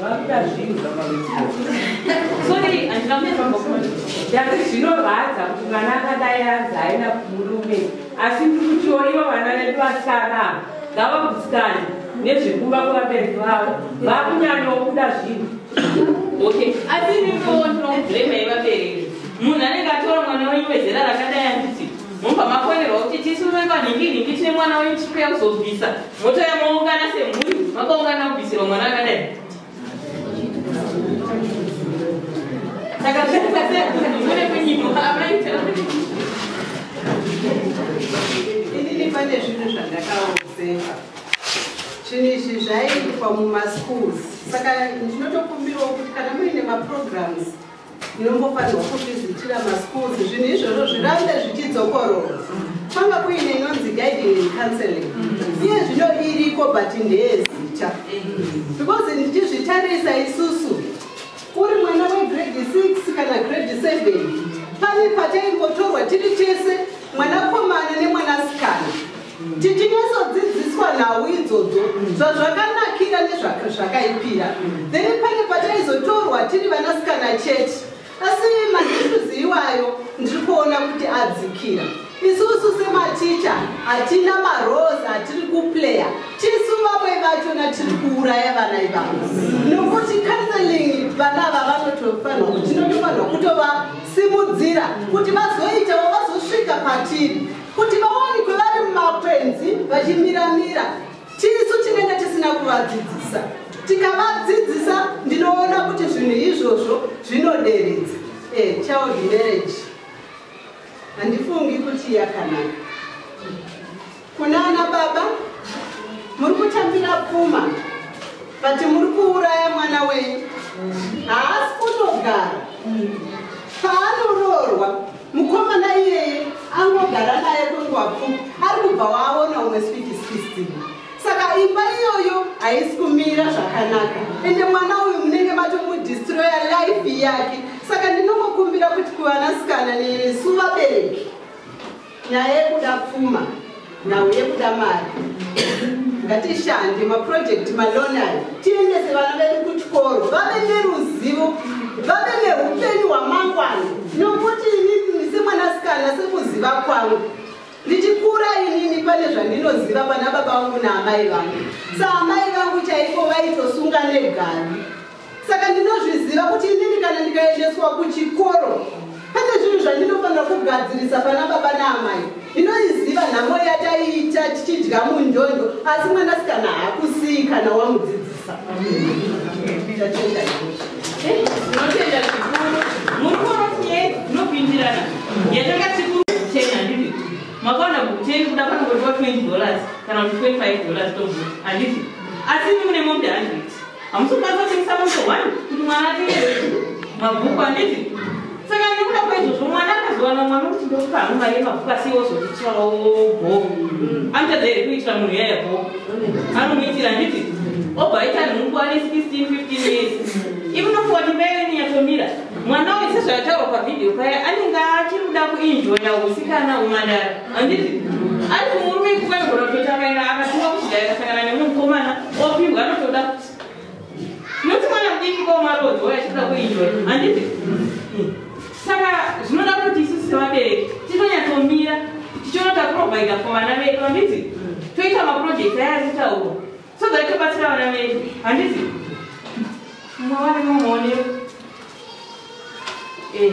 vakuda zvinhu zvamavetsorii andingamevambakuona dati zvinorwadza kuti mwana akadai anzi aenda kumurume asi ndiri kutiwo ivo vana vedu vasara ngavagutsikane nezvekuva kuvabereki vavo vakunyanyokuda zvinhu okay asi nimiwo ndinomublema yevabereki munhu anenge atora mwana wenyu wezera rakadai anditi mumba makonerwa kuti tisu vevanhingi nhingi tine mwana wenyu tiri kuya kuzobvisa Motouya moungana semhuri makaungana kubvisirwa mwana akadai. Saka zvinoita sei kuti mune kunyimo amaita. Inini pane zvinhu zvandakaozefa. Zvinhu izvi zvaiitwa mumaschools. Saka ndinotokumbirawo kuti kana muine maprograms inombofanirwa kuvhizitira maschools zvinhu izvozvo zvirambe zvichidzokorora kwanga kuine inonzi guiding and counseling iye zvino iriko but ndeyezita because ndichizvitarisa isusu uri mwana wegrade 6 kana grade 7 pane pataimbotorwa tiri tese mwanakomana nemwanasikana Titinyasodzidziswa nhau idzodzo zvazvakanakira nezvakaipira then pane pataizotorwa tiri vanasikana chete asi maissues iwayo ndiri kuona kuti adzikira isusu sematicha hatina marose hatiri kuplaya tisu vamwe vachona tiri kuuraya vana ivavo nokuti counseling vana ava vanotofanwa kuti tinotofanwa kutovasimudzira kuti vazoitawo vazosvika patiri kuti vawanikwe vari mumakwenzi vachimiramira tisu tinenge tisina kuvadzidzisa tikavadzidzisa ndinoona kuti zvinhu izvozvo zvinoderedza e eh, child marriage handifungi kuti yakanaka kuna ana baba muri kutambira pfuma but muri kuuraya mwana wenyu haasi kutogara paanoroorwa mukomana iyeye angogara naye kwenguva pfupi ari kubva waaona umwe switi system saka imba iyoyo haisi kumira zvakanaka ende mwana uyu munenge matomudistroya life yake saka ndinongokumbira kuti kuvanasikana nesu vabereki nyaya yekuda pfuma nhau yekuda mari ngatishande maprojekti maloni ayo tiendese vana vedu kuchikoro vave neruzivo vave neupenyu hwamangwana nokuti inini semwanasikana sekuziva kwangu ndichikura inini pane zvandinoziva pana baba vangu naamai vangu saamai vangu chaipo vaitosunga negavi saka ndinozviziva kuti inini kana ndikaendeswa kuchikoro pane zvinhu zvandinofanira kugadzirisa pana baba naamai ndinoiziva nhamo yataiita tichidya munjonjo asi mwanasikana hakusii kana wamudzidzisa tatenda hamusi kukwanisa kutengesa moto one kuti mwana atenge mabhuku anditi saka nekuda kwaizvozvo mwana akazowana mwana kuti ndokupa hangu mari yemabhuku asi iwo zvotityarawo bho anoita dzairi kuitira munhu yaya bho anomuitira anditi obva aita nhungu ane 16 15 years imunofuwa ndimeyeni yatomira mwana uyu sezvayataurwa pavhidhiyo paya anenge achiri kuda kuinjoya usikana umwandara handiti ari kumurume ikuka igona kutoti akaenda akatumwa kuchidai akasangana neumwe mukomana opihwa anotoda kuti noti mwana mudiki komarodzo achida kuinjoi handiti saka zvinoda kuti isu sevabereki tinonyatsombira tichionota provider for vana vedu handiti toita maproject aya atitauro so that tobatsira vana vedu handiti mwawane mumone eh,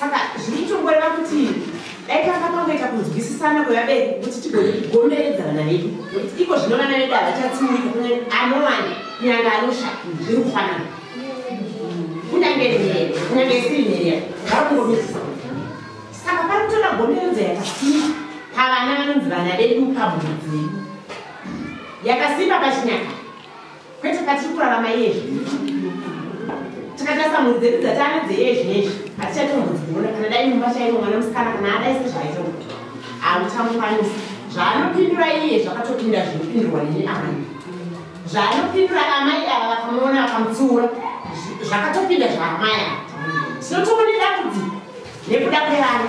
saka zviri kutongoreva kuti dai tanga pangoita kunzwisisana kwevabereki kuti tigone kugomeredza vana vedu nokuti iko zvino vana vedu havachatsiurika kunge anowani kunyange anosha zviri kufanana kunyange nhere kunyange isiri nhere vari kungomidzisa saka pari kutoda gomeredzo yakasimba pavana vanonzi vana vedu pamhuri dzedu yakasimba pachinyaka kwete katiri kurarama yezvi tikatarisa mhuri dzedu dzatana dzeyezvi nezvi hatichatombodziona kana dai mumba chaimo mwana musikana kana adai sezvaita kuti hamuchamukwanisa zvaanopindura iye zvakatopinda zvinopindurwa neni amai zvaanopindura amai ava vakamuona vakamutsiura zvakatopinda zvaamai ava tinotomoneda kuti nekuda kwevana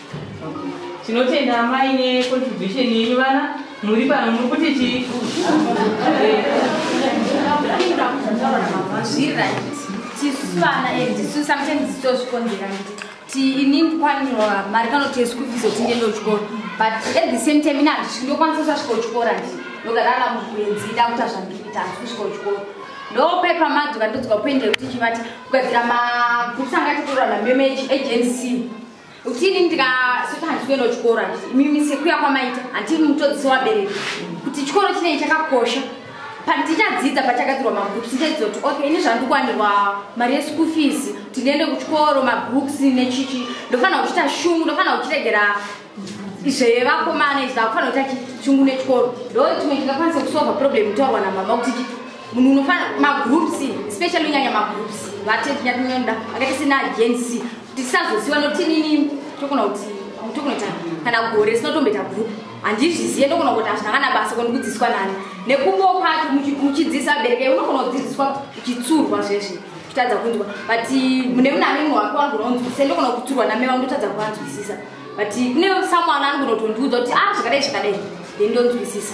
tinotenda amai necontribution yenyu vana muri pano muri kuti chii ininikwaniwa mari kanotesku fizo tinde ndochikoro but at the same time ina handisvi ndokwanisa kusasvika uchikora ndi ndogarara mukuenzi ida kuta zvandikuita handisi kusvika uchikoro ndopepa madzoka ndodzoka kuendera kuti chivati kugadzira makutsanga titorana memechi agency utini ndikasoti handisi kuenda kuchikoro mimi sekuya kwamaita handii mutodzisi wabereki kuti chikoro chinei chakakosha pandichadzidza pachagadzirwa mabooks ndichadzidza kuti okay ini zvandikwanirwa mari yeschool fees kuti ndiende kuchikoro mabooks nechichi ndofanira kuchita shungu ndofanira kuchiregera zvevakomana izvi ndakufanira kuita chungu nechikoro ndo chimwe chingakwanisa kusolva problem itaurwa namama kuti munhu unofanira magroups especially unyanya magroups vatenyatinyonda akaita sena agency ndisazoziva nokuti inini tokona kuti tokunoita kana gore sinotomboita group handizvizive ndokona kuti hazvina kana basa koni kudzidziswa nani nekumbo kwacho muchidzidzisa abereke unokona kudzidziswa uchitsurwa zvese uchitadza kunzwa but mune mune amene wako anogona kunzwisisa ndokona kutsurwa name vangu ndotadza kuvanzwisisa but kune samwana anogona kutondiudza kuti a ah, zvakadai zvakadai then ndonzwisisa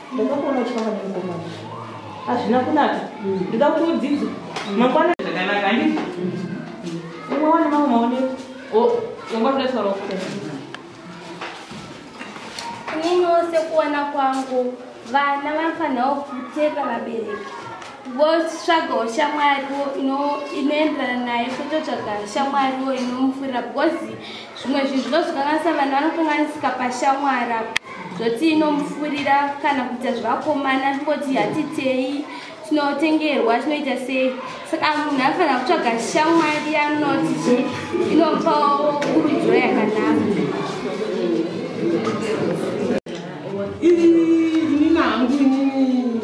ndakakuona uchifamba nemukomana hazvina kunaka ndida kuti udzidze mangwana zvakanaka andi umwe wane mamwe maoneko wanga kuda taura kuta inini wose kuona kwangu vana vanofanirawo kutepa vabereki votsvagawo shamwariwo inoenderana naye kwototsvaga shamwariwo inomufurira because zvimwe zvinhu zvinozokanganisa vanhu vanokanganisika pashamwari apo zvoti inomufurira kana kuita zvevakomana koti hatitei tinotengerwa tinoita sei saka munhu afanira kutsvaga shamwari anoti zve inopawo kurudziro yakanaka ini ini nangu inini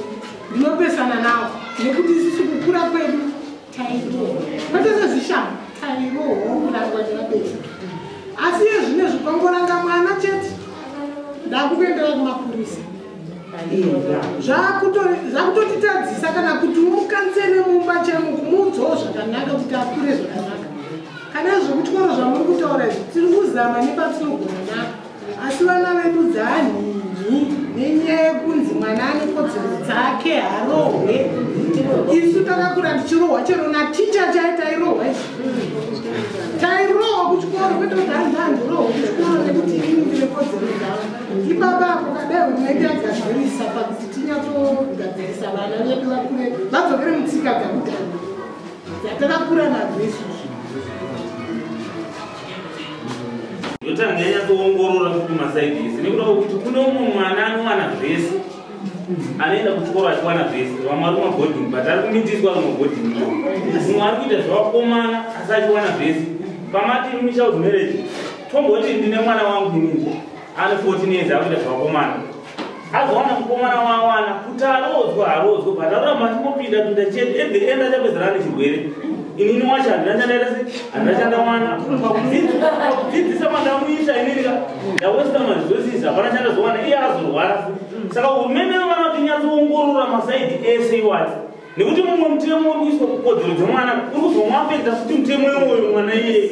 ndinopesana nawo nekuti isisi kukura kwedu matezezvishama tairohokurangwa nevabereki asi iye zvine zvipangoranga mwana chete ndakukuendera kumapurisa zvakutotitadzisa kana kuti umukansere mumba chemo kumuudzawo zvakanaka kuti akure zvakanaka kana zvekutyoro zvamuri kutaura izvi tiri kuzama nepatinogona nako asi vana vedu dzanhinhi nenyaya yekunzi mwana ane kodzero dzake harohwe isu takakura tichirohwa chero naticha chai tairohwa isu tairohwa kuchikoro kwete kuti hanzi handirohwa kuchikoro nekuti ini ndine kodzero dzavo ipapa apo kadai hurumende yagadzirisa pakuti tinyatsogadzirisa vana vedu vakure vadzokere mutsika dzakudhara dzatakakura nadzo isusu ndotanga yanyatsoongorora kuti masaidi ese nekuda kwekuti kune umwe mwana anowana zvese anoenda kuchikoro achiwana zvese vamwe ari kumabhoding but ari kumitiswa ari kumabhoding umwe ari kuita zvavakomana asi achiwana zvese pamati muchild marriage tomboti ndine mwana wangu inini ane 14 years akuita zvevakomana azowana mukomana waawana kuti aroodzwe haroodzwe but aroramba achingopinda pinda chete at the end achapedzerana nechirwere inini wacho handina chandaita se handina chandawana pakudzidzisa mandamuita ininika ndawesta maresources hapana chandazowana iye azorwara futi saka hurumende vana kuti nyatsoongorora masaidi ese iwacho nekuti mumwe mutemo uri kuiswa kukodzero dzemwana uri kuzomwapedza futi mutemo iwoyo mwana iyeye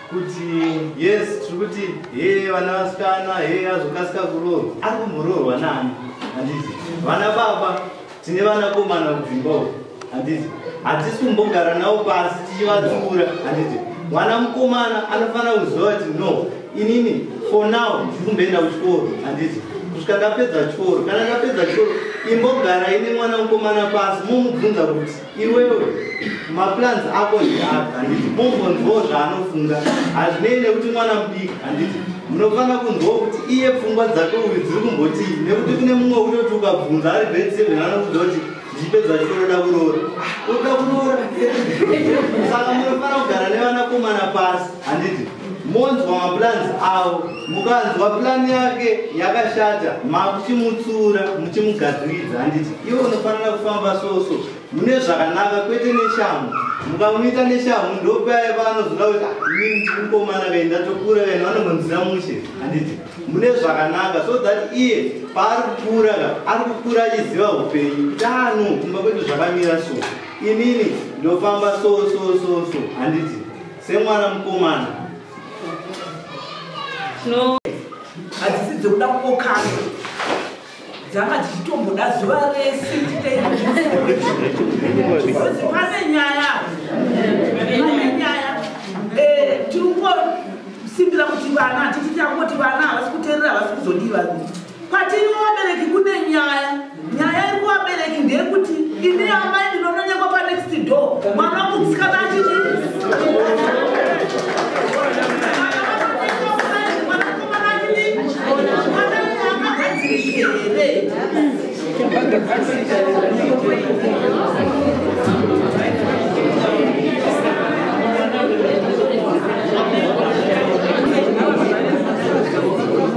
kuti yes tiri kuti hee vana vasikana hee azokasika kuroorwa ari kumboroorwa nani handizi vana baba tine vanakomana kudzimba uko handizi hatisi kumbogara navo pasi tichivatsiura handizi mwana mukomana anofanira kuziva kuti no inini for now ndiri kumboenda kuchikoro handizi kusvika ndapedza chikoro kana ndapedza chikoro imbogara ine mwana mukomana pasi momubvunza kuti iwewe maplans ako ndiapi handiti umbonzwawo zvaanofunga hazvinei nekuti mwana mudiki handiti munofanira kunzwawo kuti iye pfungwa dzake uyu dziri kumbotii nekuti kune mumwe unoti ukabvunza ari grade seven anokuda kuti ndichipedza chitonoda kuroora uda kuroora saka munofanira kugara nevanakomana pasi handiti monzwa maplans avo mukanzwa plan yake yakashata makuchimutsura muchimugadziridza handiti iwe unofanira kufamba soso mune zvakanaka kwete neshamu mukamuita neshamu ndopaya paanozoda kuti ah, ini ndirimukomana kai ndatokura kai vanogonzira mushe handiti mune zvakanaka so that iye paari kukura ka ari kukura achiziva upenyu tano kumba kwedu zvakamira so inini ndofamba so so so so handiti semwana mukomana no hadzisi dzekuda kukokana dzanga dzichitomboda zuva rese tiitairozi pane nyaya pane nyaya eh, tiri kungosimbira kuti vana tichiti angoti vana havasi kuterera havasi kuzodiva Kwatiri vabereki kune nyaya. Nyaya iri kuvabereki ndeyekuti ini amai ndinononyekwa panext door. Mwana wangu musikana achiti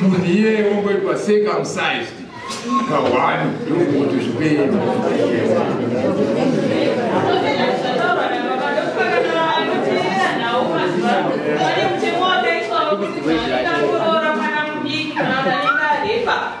munhu iye wongoitwa circumcised kawani yokuti zvipei Thank you.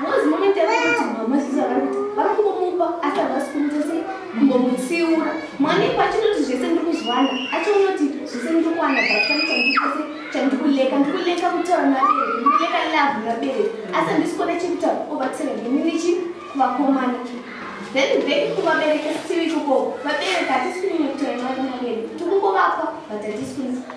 Ngozi moment yekuti mama sisi vari kuti vari kungomupa asi havasi kumuita sei kumbomutsiura mwanepo achinoti zvese ndiri kuzviwana achiona kuti zvese ndiri kuwana batani chandikuita sei chandiri kuleka ndiri kuleka kutaura nabereki ndiri kuleka love nabereki asi handisi kuona chekutaura obatsira ndini ndichi kuvakomana then back kuvabereki sitivi ikoko vabereki hatisi kunyanya kutaura navari nabereki tiri kungovapa but hatisi kunyanya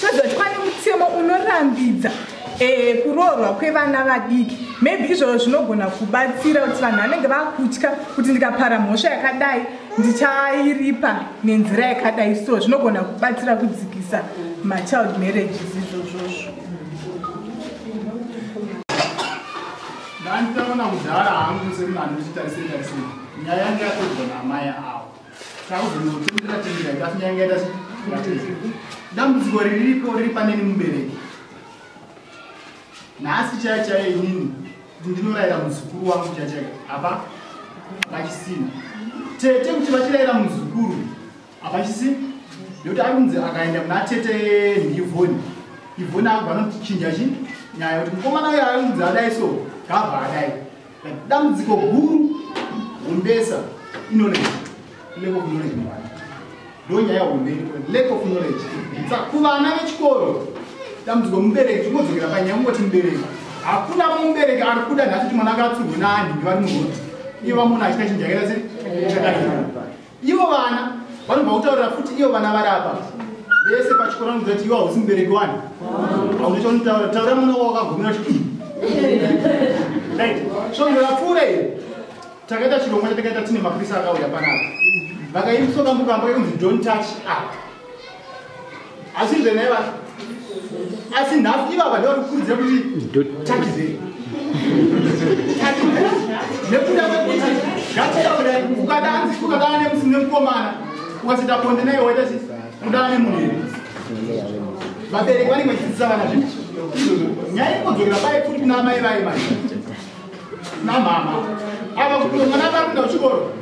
toziva kuti kwane mutemo unorambidza eh, kuroorwa kwevana vadiki maybe izvozvo zvinogona kubatsira kuti vanhu vanenge vakutya kuti ndikapara mhosva yakadai ndichairipa nenzira yakadai so zvinogona kubatsira kudzikisa machild marriages izvozvozvo ndanditaona kudhara hangu semunhu anochitarisetarisei nyaya yange yatogona amai avo dambudziko riripo riri paneni mubereki nhasi chaya chaya inini ndinorayira muzukuru wangu chaya chaya apa vachisina tete kuti vachirayira muzukuru apachisina nekuti ari kunzi akaenda kuna tete ndivoni ivoni avo vanotichinja chi nyaya kuti mukomana uyo ari kunzi adai so gabva adai dambudziko guru humbesa inoneji level of knowledge muvana ndo nyaya hombe lack of knowledge sa kuvana vechikoro dambudziko mubereki tinodzokera panyaya kungoti mubereki hakuna mubereki ari kuda nhasi kuti mwana anga atsurwe naani ndivari muroti iye vamona achita chinjakaira sei chakaiaa Ivo vana vanobva kutaurira futi ivo vana vari apa vese pachikoro vanoziva kuti ivo hausi mubereki wani hauna chaunitaura taura mwana wavo wakagumira chii so ndovapfuura iyo takaita chirongwa chatakaita tine maprisa akauya panapa vakaimusokambukambo yekunzi don't touch up asi zvenai vacho asi nhafu ivava ndivari kukurudzira kuti takizei nekuda kwekuti zvatitaura ukada hanzi ukadana nemusi nemukomana ukasita bonde naye waita chii kudana nemunhu vabereki vanenge vachidzidzisa vana zvi nyaya ikogerera bai futi kuna amai vaye mai namama ava kutomwana vakuenda kuchikoro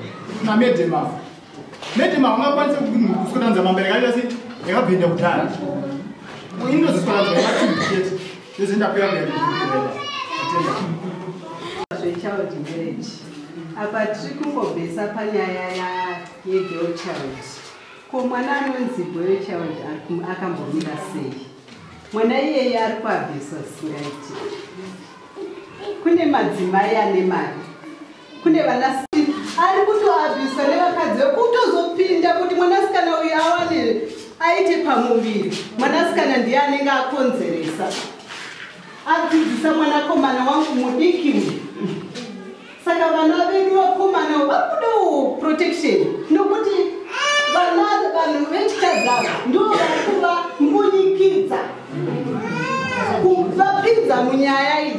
namedhemafa Madam haungakwanise kudanza mambere kaita se yakabhenda kudhara. Inoziswakanzwa yematimbi chete. Yose ndakuya kuya kuchibhedhlera. Zvechild marriage. Apa tiri kungobvesa panyaya yegirl child. Ko mwana anonzi boy child akambomira sei? Mwana iyeye ari kuabviswa singaiti. Kune madzimai ane mari kune vana ari kutoabviswa nevakadzi vekutozopinda kuti mwanasikana uyu awane aite pamuviri mwanasikana ndiye anenge akonzeresa adzidzisa mwanakomana wangu mudiki uyu saka vana vedu vakomana vakudawo protection nokuti vana vanhu vechikadzava ndo vari kuva mbunyikidza vapinza munyaya idzi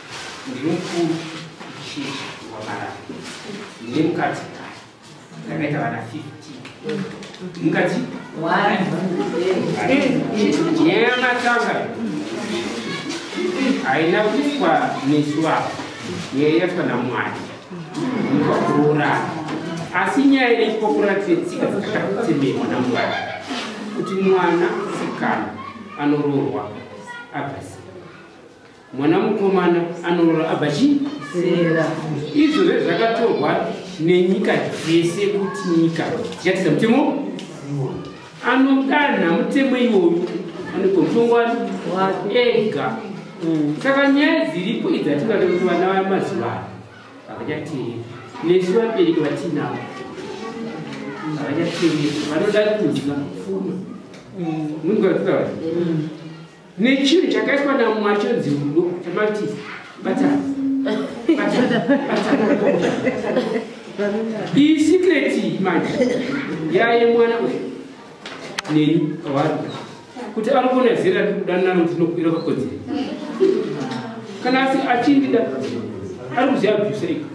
ndiri mukuru chechi wamarara ndine mukadzi kare ndakaita vana 15 mukadzi yematanga haina kuitwa nesu ava yeyatwa namwari ndikwa kuroorana asi nyaya ine chikokora tsetsika dzakatakutemerwa namwari kuti mwana sikana anoroorwa abvasi mwana mukomana anorora abva chii zera izvo zve zvakatorwa nenyika dzese kuti nyika dzichatidza mutemo anodanha mutemo iwoyu anogomutongwani ega mm. saka nyaya dziripo idzi atingade kuti vana vaya mazuvano havachateeri nesu vabereki vatinavo havachateeri vanoda kuziva funo mm. munzwa kutaura mm. nechinhu chakaiswa namwari chinonzi rudo chamati batana iyi sikreti manje yaye mwana uyu neni awari kuti anogona zera ri kudanana kuti nokuira kwakodzera kana asi achindida ari kuziva bvisa iko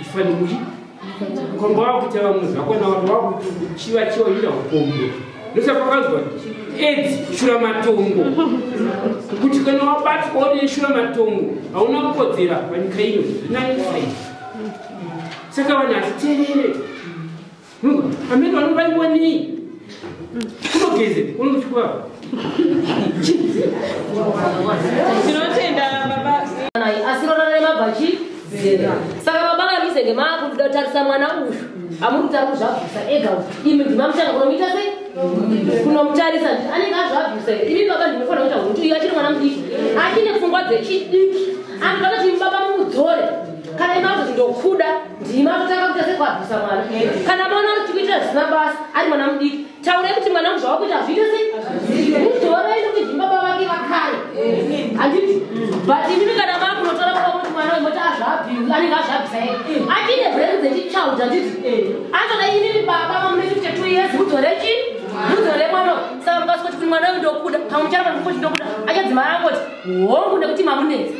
ifanimuri komba wakuita vamwe zvakona vanhu vakuchiva chiva ira ukombo ndosaka kwakanzwa aids shura matongo kuti kana wabatwa une shura matongo hauna kukodzera panyika ino zvinanisa saka vanhu hatiterere Ameno anobayiwa nei? Kunogeze, unochukua. Tinotenda baba. Asi rona nemabhachi zera. Saka baba kamizenge makutarisa mwana uyu. Amuri kutara kuzvabvisa ega uyu. Imi ndimamutanga kunomuita sei? Kunomutarisa anenge azvabvisa ega. Imi baba ndinofanira kuita kuti uyu achiri mwana mudiki. Achine pfungwa dzechidiki. Anhu vakati baba mudzore. Kana imakuti ndokuda. ndimi akutanga kuita sekuabvisa mwana kana mwana uchikuitira zvisina basa ari mwana mudiki taurai kuti mwana muzva wakuita hazviite sei mudhora ino kuti baba vake vakare handiti but imimi kana maa kunotora kuva kuti mwana wemoti azvabi anenge azvabisa ye atine brand dzechichild handiti anzona imimi baba vamune 52 years mudhora chi mudhora mwana saka mukasikuti kuti mwana uyu ndokuda pamuchara pamukuti ndokuda achadzimara angoti hongu nekuti mamunetsi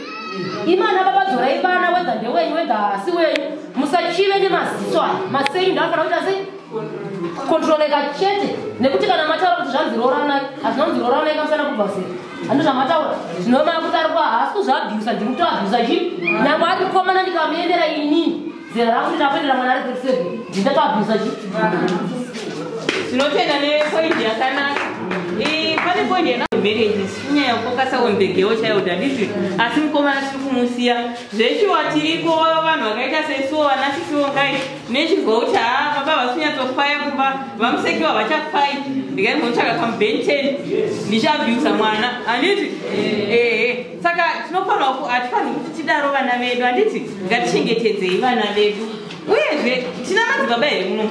imana baba dzorai vana wedha ndewenyu wedha hasi wenyu musachive nemaziso aya maseyu ndafana kuita sei kontroleka chete nekuti kana mataura kuti zvanzi rooranai hazvina kunzi rooranai kamusana kubva sei handi zvamataura zvinova makuti ari kuahasi kuzvaabhiusa ndiri kutoabhiusa chii nyangwe ari kukomana ndikamuendera inini Zera rangu ndinapendera mwana ari grade seven ndingataabusa chi tinotenda nepoindi yakanaka pane poindi yana marriages inyaya yekukasa on the girl child handizvi asi mukomana tiri kumusiya zveshuwa tiriko vanhu vakaita sesuwo vana sisiwo ngai nechizwa kuti haa baba vasinyatsokwaya kumba vamusekiwa vachakwai ndikaimbomutsvaka kamubenten ndichabyusa mwana handiti ehe saka tinofanirwa ku hatifanirwi kuti tidaro vana vedu handiti ngatichengetedzei vana vedu uyezve tina madzibaba here muno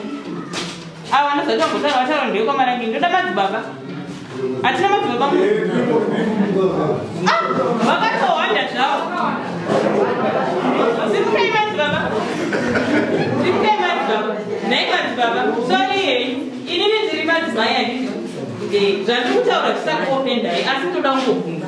ava anozati vambotaura vataura ndeye kwamarangi ndoda madzibaba hatina madzibaba mu ah, vakatohwanda zvavo simukai madzibaba simukai madzibaba nhai madzibaba sori hei inini ndiri madzimai handiti eh, zvandiri kutaura zvisakuopendai asi ndoda kungobvunza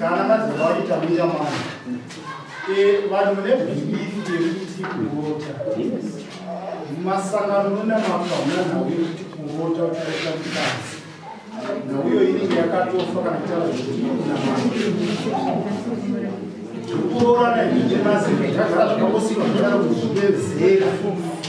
kana madzimba aita muya mwana eh, vanhu vane bhilifi yekuti kurota masangano nona makaona nhau yekuti kurota uchaita mukadzi nhau iyo inenge yakatofa kana kutaura zvekuti kunamana kuroorana ii mazimba zvagara zvakangosiwa zvadaro kuzvipedzera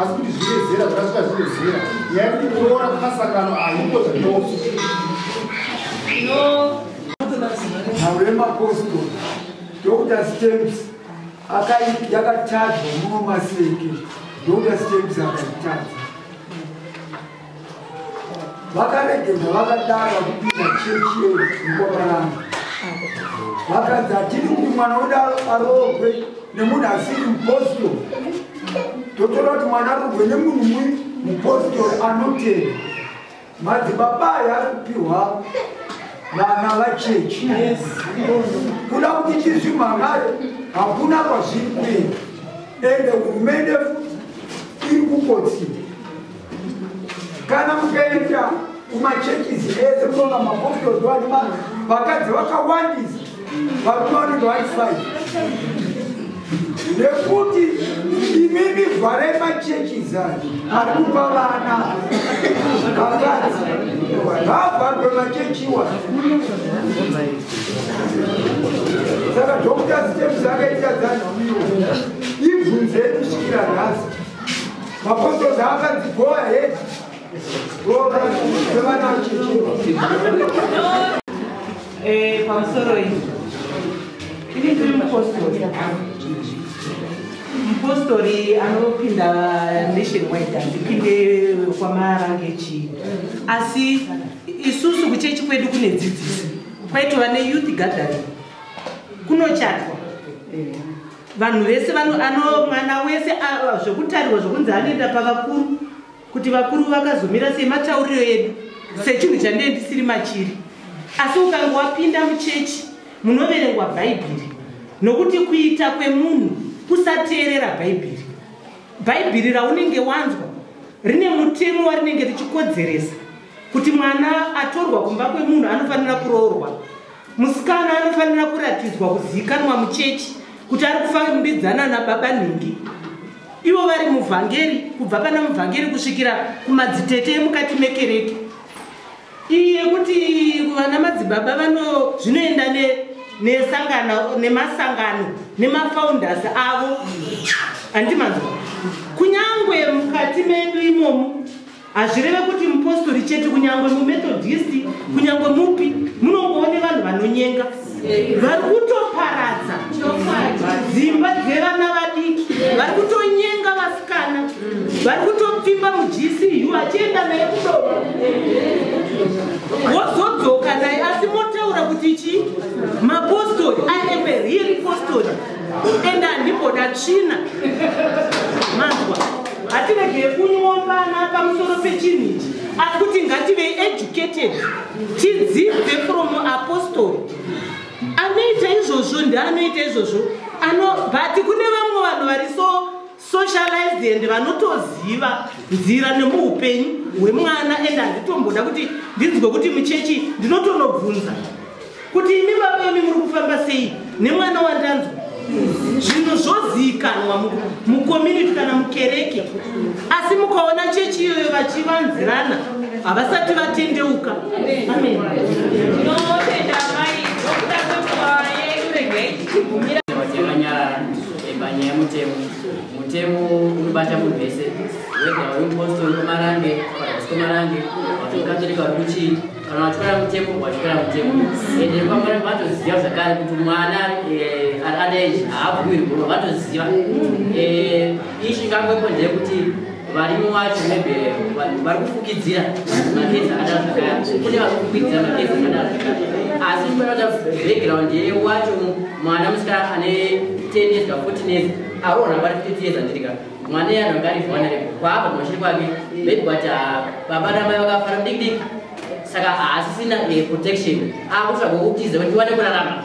asi kuti zvine zera zvakasvika zvine zera nyaya yekuti kuroora kumasangano ahiko zvinoso nhauro yemapostori dr stamps yakatadzwa muno maseke dr stamps akaitadza vakaregedza vakadaro vakupinda chechi yemukovarana vakadzi hatidi kuti mwana udaro aroogwe nemunhu asiri muposito totora kuti mwana aroogwe nemunhu mui muposito anotenda madzibaba ayo ari kupihwa vana vachechi kuda kuti tizvimhan'are hakuna kwazviri kuenda ende hurumende futi iri kukotsira kana mukaenda kumachechisi ese kunoona mapostols vane vakadzi vakawandisa varume vanenge vari five nekuti imimi vharai machechisi ari kupa vana vakadzi ngavharwe machechiwa saka dhokuta sitemusi akaita dzanhamiwo ibvunzei kusvikira nhasi Mapostori akanzi go ahead. Roora zvevana vachichirwa. Eh, pamusoro iyi. Ini ndiri mupostori. Mupostori anopinda nationwide andipinde kwamarange chii. Asi isusu kuchechi kwedu kune dzidziso. Kwaitova neyouth gathering. Kunochatwa. vanhu vese ano mwana wese zvekutarirwa zvekunzi anoenda pavakuru kuti vakuru vakazomira sei matauriro edu sechinhu chandee ndisiri machiri asi ukange wapinda muchechi munoverengwa bhaibheri nokuti kuita kwemunhu kusateerera bhaibheri bhaibheri raunenge wanzwa rine mutemo warinenge richikodzeresa kuti mwana atorwa kumba kwemunhu anofanira kuroorwa musikana anofanira kuratidzwa kuzivikanwa muchechi kuti ari kufambidzana nababa nhingi ivo vari muvhangeri kubva pana muvhangeri kusvikira kumadzitete emukati mekereke iyi yekuti vana madzibaba vano zvinoenda nesangano nemasangano nemafounders avo handimanzwa kunyange mukati medu imomo hazvireve kuti mupostori chete kunyange mumethodisti kunyange mupi munongoone vanhu vanonyenga vari kutoparadza dzimba dzevana vadiki vari kutonyenga vasikana vari kutopfimba mugcu achienda naye kudova wozodzoka naye asi motaura kuti chii mapostori i am a real postori ende handimboda tsvina manzwa hatiregeye kunyombana pamusoro pechinhu ichi asi kuti ngative educated tidzidze from apostoli anoita izvozvo ndianoita izvozvo ano but kune vamwe vanhu vari so socialized and vanotoziva nzira nemuupenyu hwemwana and handitomboda kuti ndinzwe kuti muchechi ndinotonobvunza kuti imi baba imi muri kufamba sei nemwana wandanzwa zvinhu zvoziikanwa mucommunity kana mukereke asi mukaona chechi iyoyo vachivanzirana havasati vatendeuka amen Panyaya yemutemo, mutemo unobata munhu wese, wega uri mupostori komarange, kana kuti komarange, kuti mukatolika uri kuchii, kana wachikora mutemo, wachikora mutemo. Ende kwamwari vatoziva zvakare kuti mwana eh, ari ane age haabvumirwi, vatoziva. Eh, ichi ngangopo ndeyekuti varimi wacho nebere vanhu vari kufukidzira magezi akadaro zvakaya kune vari kufukidzira magezi akadaro zvakaya asi mufanira kuti background yeye wacho mwana musikana ane ten years ka fourteen years aroona pari fifty years andiri ka mwana iye anonga ari vana repo kwaapa kumashiri kwake maybe but ah, baba namai vakafara mudikidiki saka haasisina eh, protection akutsvaga kukutiza kuti ndiwane kurarama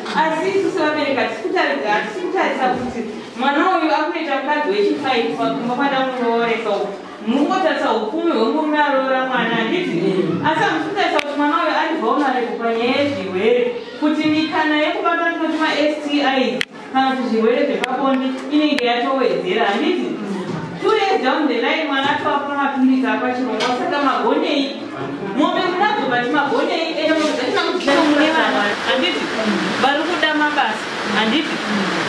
asi isu sevabereki hatisi kutaridza hatisi kutarisa kuti mwana uyu akunoita mukadzi wechifaiti pakumba kwadamurooresa uku mukungotarisa upfumi hwemurume aroora mwana handiti asi hamusi kutarisa kuti mwana uyu ari vulnerable panyaya yezvirwere kuti mikana yekubata tinoti mastis kana kuti zvirwere zvepabonde inenge yatowedzera handiti two years down the line mwana atova pamapirisi apachirongwa saka magonei mombe kunadzo but magonei ende mombe dzacho nakudzaa mune vanhu handiti vari kuda mabasa handiti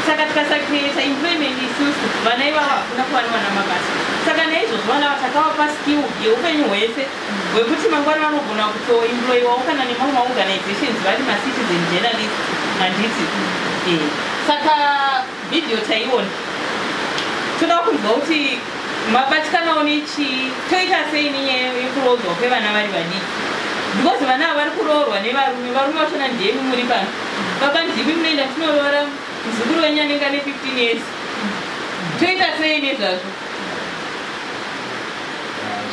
saka tikasakreata employment isusu vana ivavo hakuna kuva nevana mabasa saka naizvozvo vana vatakavapa skill yeupenyu hwese hwekuti mangwana vanogona kutoemployiwawo kana nemamwe maorganizations vari macitizen journalist handiti eh. saka Video taiona toda kunzwa kuti mabatikanawo nechii toita sei nenyaya yekuroodzwa kwevana vari vadiki because vana ava vari kuroorwa nevarume varume vachona ndemi muri pano baba ndimi munoenda tinoroora muzukuru wenyu anenge ane 15 years toita sei nezvazvo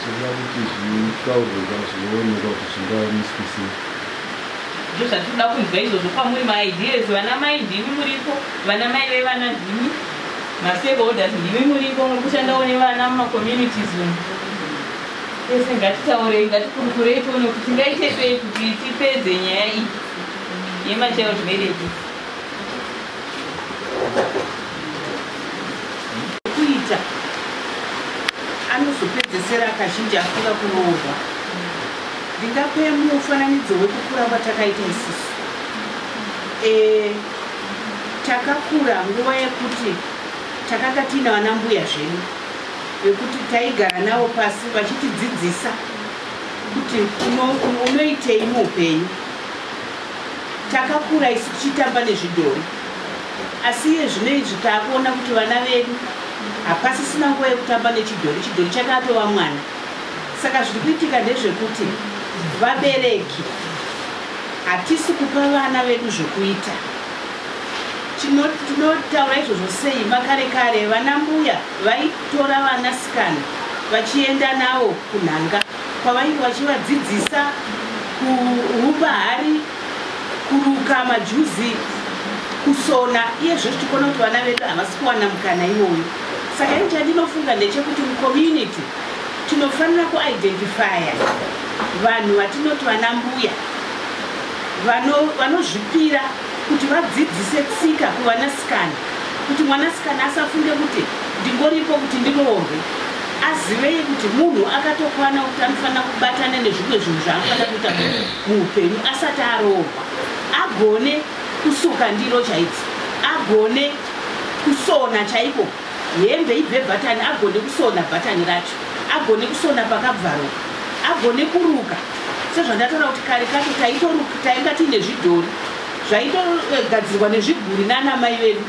zvinoda kuti zvitaurwe zvazvinoonekwa kuti zvingamiswisei Ndozvatikuda kunzwa izvozvo kwamuri maideas vana mai ndimi muripo vana mai vevana ndimi mastakeholders ndimi muripo muri kushandawo nevana mumacommunities umu tese ngatitaurei ngatikurukurei tione kuti tingaite sei kuti tipedze nyaya iyi yemachild marriages kuita anozopedzesera kazhinji afunga kunoorwa ndingape mufananidzo wekukura kwatakaita isusu e, takakura nguva yekuti takanga tiina vana mbuya zvenyu vekuti taigara navo pasi vachitidzidzisa kuti unoitei muupenyu Takakura isu tichitamba nezvidhori asi iye zvino izvi taakuona kuti vana vedu hapasisina nguva yekutamba nechidhori, chidhori chakatova mwana. Saka zviri kuitika ndezvekuti vabereki hatisi kupa vana vedu zvokuita. Tinotaura izvozvo sei? Makare kare vana mbuya vaitora vana sikana vachienda navo kunhanga. kwavainge vachivadzidzisa kuumba hari kuruka majuzi kusona iye zvo tichiona kuti vana vedu havasi kuwana mukana iwoyo saka ini chandinofunga ndechekuti mucommunity tinofanira kuidentifya vanhu vatinoti vana mbuya vanozvipira vano kuti vadzidzise tsika kuvanasikana kuti mwanasikana asafunge kuti ndingoripo kuti ndiroorwe azivei kuti munhu akatokwana kuti anofanira kubatana nezvimwe zvinhu zvaanofanira kuita muupenyu asati aroorwa agone kusuka ndiro chaidzo agone kusona chaiko hembe ibve bhatani agone kusona bhatani racho agone kusona pakabvaroka agone kuruka sezvandataura kuti kare kacho taitoruka tainga tiine zvidhori zvaitogadzirwa nezviguri nana mai vedu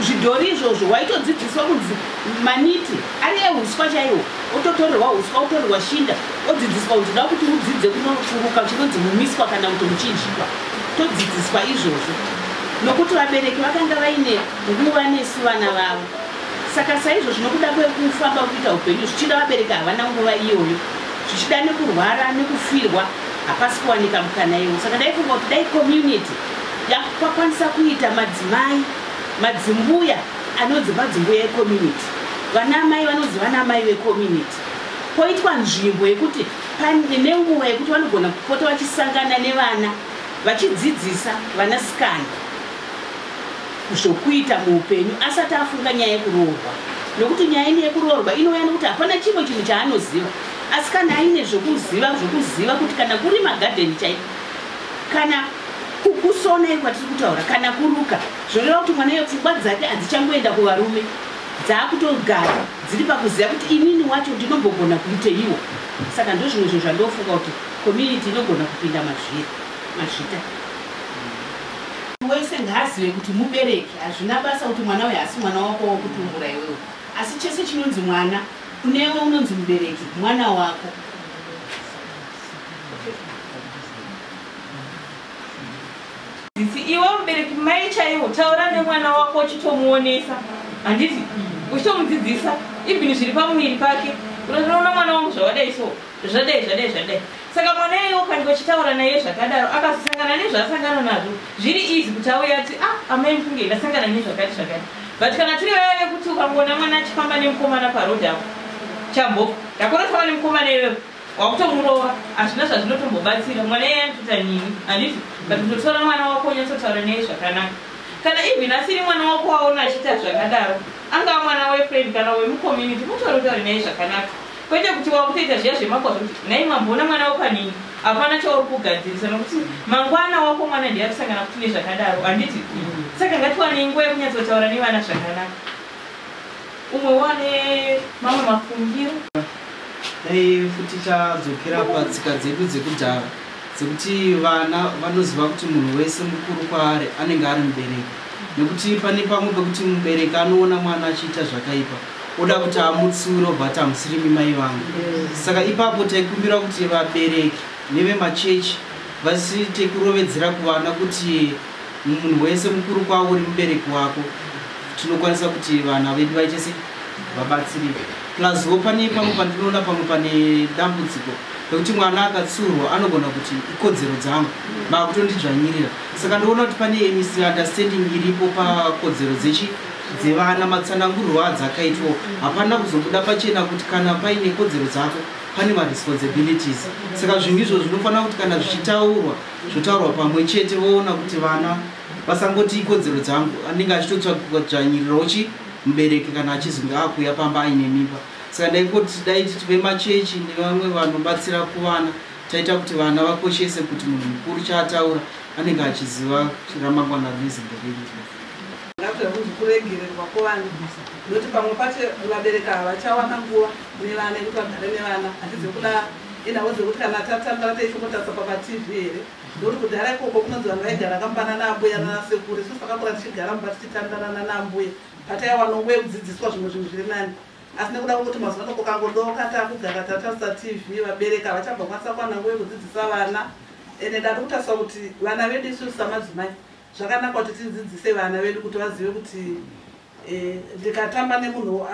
zvidhori izvozvo waitodzidziswa kunzi Maniti ari ehuswa chaiwo, ototorerwa huswa, otorerwa shinda, odzidziswa kuti da kuti udzidze kunofuruka chinonzi mumiswa kana kuti muchinjikwa. Todzidziswa izvozvo nokuti vabereki vakanga vaine nguva nesu vana vavo. Saka saizvozvo nokuda kwekufamba kuita upenyu zvichida vabereki havana nguva iyoyo. Zvichida nekurwara nekufirwa hapasi kuwanika mukana iwo. Saka ndaifunga kuti dai community yakukwanisa kuita madzimai, madzimbuya, Anonzi madzimbuya ecommunity, vana amai vanonzi vana amai vecommunity. Poitwa nzvimbo yekuti pane nenguva yekuti vanogona kupota vachisangana nevana vachidzidzisa vana sikana zvokuita muupenyu asati afunga nyaya yekuroorwa nokuti nyaya ine yekuroorwa inouya nokuti hapana chimwe chinhu chaanoziva asi kana aine zvokuziva zvokuziva kuti kana kuri magadheni chaiko kana kukusona iri kwatiri kutaura kana kuruka Zvoreva kuti mwana iyo pfungwa dzake hadzichangoenda kuvarume, dzaakutogara dziri pakuziva kuti inini wacho ndinombogona kuiteiwo. Saka ndozvimwe zvinhu zvandofunga kuti community inogona kupinda mazviri mazvita. Wese ngaazive kuti mubereki hazvina basa kuti mwana uyu haasi mwana wako wakutumbura iwewe, asi chese chinonzi mwana kunewe unonzi mubereki mwana wako. Sisi iwe mubereki mai chaiwo taura nemwana wako uchitomuonesa handiti uchitomudzidzisa even zviri pamuviri pake unotoona mwana wangu zvavadai so zvadai zvadai zvadai saka mwana iye ukange uchitaura naye zvakadaro akazosangana nezvaasangana nazvo zviri easy kuti auya ati ah amai mufunge ndasangana nezvakati zvakati but kana tiri vaya vekuti ukangoona mwana achifamba nemukomana parod apo chambo ndakunotaura nemukomana iyoyo wakutomurova hazvina zvazvinotombobatsira mwana iye anotota nini handiti but kutotora mwana wako unyatsotaura neye zvakanaka kana even asiri mwana wako waona achiita zvakadaro angava mwana wefriend kana wemucommunity mutori utaure neye zvakanaka kwete kuti wakutoita zviya zvemakwazvo kuti nai mamboona mwana wako anini hapana chauri kugadzirisa nokuti mangwana wako mwana ndiye akusangana kuti nezvakadaro handiti saka ngatiwanei nguva yekunyatsotaura nevana zvakanaka Umwe wane mamwe mafungiro. Dai futi tadzokera patsika dzedu dzekudhara dzekuti vana vanoziva kuti munhu wese mukuru kwaari anenge ari mubereki nekuti pane pamwe pekuti mubereki anoona mwana achiita zvakaipa oda kuti amutsiure obva ati hamusirimi mai vangu saka ipapo taikumbira kuti vabereki nevemachechi vasiite kurovedzera kuvana kuti Munhu wese mukuru kwauri mubereki wako tinokwanisa kuti vana vedu vaite se vabatsirike plus wo pane pamwe pandinoona pamwe pane dambudziko nekuti mwana akatsurwa anogona kuti ikodzero dzangu vakutondidzvanyirira saka ndoona kuti pane misunderstanding iripo pakodzero dzechi dzevana matsanangurwo adzakaitwa hapana kuzobuda pachena kuti kana paine kodzero dzako pane maresponsibilities saka zvinhu izvo zvinofanira kuti kana zvichitaurwa zvotaurwa pamwe chete voona kuti vana vasangoti ikodzero dzangu anenge achitotsvanyirirawo chi mubereki kana achizonge akuuya pamba aine mimba saka ndaikoti dai titi vemachechi nevamwe vanobatsira kuvana taita kuti vana vakoshese kuti munhu mukuru chaataura anenge achiziva ramangwana rinezimbereii zvakaita kuti kuregererwa kuvana nokuti pamwe pacho vabereki ava vachawana nguva nevana yekuti vagare nevana hatizi kuda Ende hauzivi kuti kana tatamba taisvikotarisa pamaTV here ndokuti kudhara ikoko kunonzi vanhu vaigara kambana naambuya nanasekuru isusu takakura tichigara mumba tichitandarana naambuya pataiwa nonguva yekudzidziswa zvimwe zvinhu zviri nani asi nekuda kwekuti mazuva ano kokangodoka takugara tatarisa tv vabereki havachabva kwanisa kuwana nguva yekudzidzisa vana ende ndati kutarisa kuti vana vedu isusu samadzimai zvakanaka kuti tidzidzise vana vedu kuti vazive kuti Eh, ndikatamba nemunhu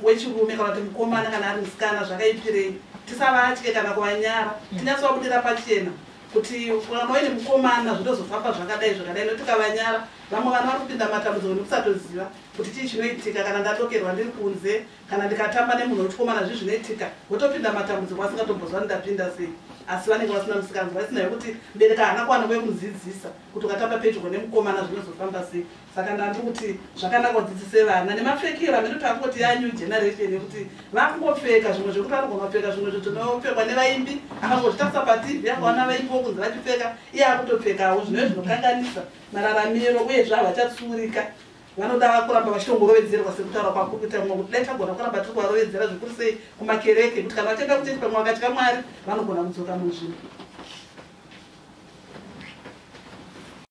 wechirume kana kuti mukomana kana ari musikana zvakaipirei tisavatye kana kuvanyara mm. tinyatsovabudira pachena kuti kana waine mukomana zvinozofamba zvakadai zvakadai no tikavanyara vamwe vana vari kupinda matambudziko nekusatoziva kuti chii chinoitika kana ndadokerwa ndiri kunze kana ndikatamba nemunhu wechikomana zvi zvinoitika wotopinda matambudziko asingatombozvani ndapinda sei asi vanenge vasina musikanzi vasina yekuti mbereka hana kuwana kwekumudzidzisa kuti ukatamba pedyo nemukomana zvinozofamba sei saka ndati kuti zvakanaka udzidzise vana nemapfekero amene kuti akungoti ya new generation yekuti vakungopfeka zvimwe zvekuti anogomapfeka zvimwe zvetinopfekwa nevaimbi akangozvitarisa patv akaona vaimbi vokunzi vachipfeka iye akutopfekawo zvinove zvinokanganisa mararamiro uye zve havachatsuurika vanoda kuramba vachitongorovedzerwa sekutaura kwakuita mwe kuti dai tagona kuramba tiri kuvarovedzera zvikuru sei kumakereke kuti kana vachienda kuchechi pamwe vakatya mwari vanogona kudzoka munzvimbo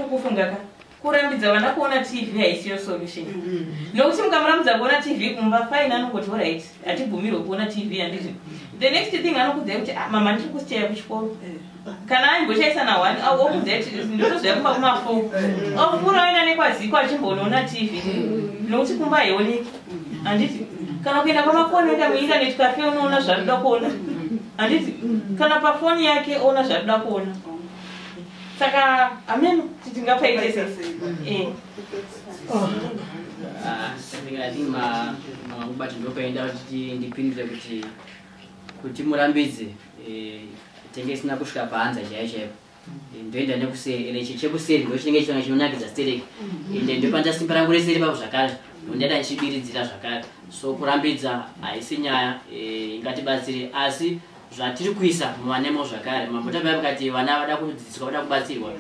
kufungaka kurambidza vana kuona tv haisiyo solution mm-hmm. nokuti mukamurambidza kuona tv kumba fine anongoti orit hatibvumirwe kuona tv handizvo the next thing anokudzai kuti ah, mama ndiri kusichaya kuchikoro eh. kana aimbochaisa na one okudzai kuti ndotozvaya kumba kumafo eh. ofura oenda nekwaziko achimbonoona tv mm-hmm. nokuti kumba haioneki mm-hmm. handiti kana kuenda kwamakoni oenda muinternet cafe unoona zvaanoda kuona handiti kana pafoni yake oona zvaanoda kuona saka ameno kuti tingapaite sei Eh. Ah, something I think ma mangubati ndopaenda kuti ndipindure kuti kuti murambidze eh, tenge isina kusvika paanza chaiyo chaipo Eh, ndoenda nekuseri ende chi- chekuseri ndo chinenge chitanga chinonakidza stereki ende ndopanda simba rangu rese ripapo zvakare ndondaita ndichibiridzira zvakare so kurambidza haisi nyaya eh, ingatibatsire asi zvatiri kuisa muvanemo zvakare mambo tabai vakati vana vada kudzidziswa vada kubatsirwa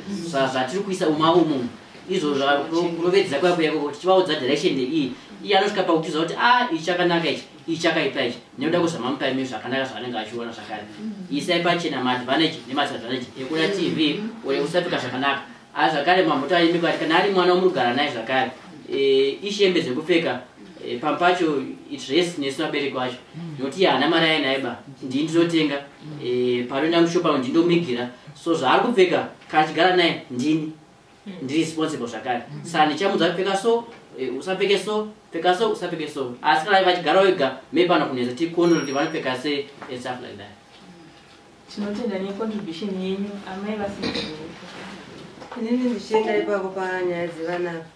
zvatiri kuisa uma umu izvo zvakurovedzera kuya kuya kuti chivaudza direction iyi iye anosvika pakutiza kuti a ah, ichi chakanaka ichi ichi chakaipa ichi nekuda kwezvamamupa imi zvakanaka zvaanenge achiona zvakare isai pachena maadvantage nemasadvantage ekuda tv or ekusapika zvakanaka a zvakare mamota aimbi kwati kana ari mwana omugara naye zvakare e, ishembe zvekupfeka e, pam pacho itress nesu vabereki wacho nokuti iye haana mari ainaye ba ndii ndinotenga e, panoenda mushopa ndi ndomigira so zvaari kupfeka kana achigara naye ndini ndiri responsible zvakare saa ndichamudza kupfeka so e, usapfeke so pfeka so usapfeke so asi kana vachigara wega maybe anokunetsa tikuona kuti vanopfeka se and stuff like that Tinotenda ne contribution yenyu amai vaSiguru. Inini ndichienda ipapo panyaya dzevana apa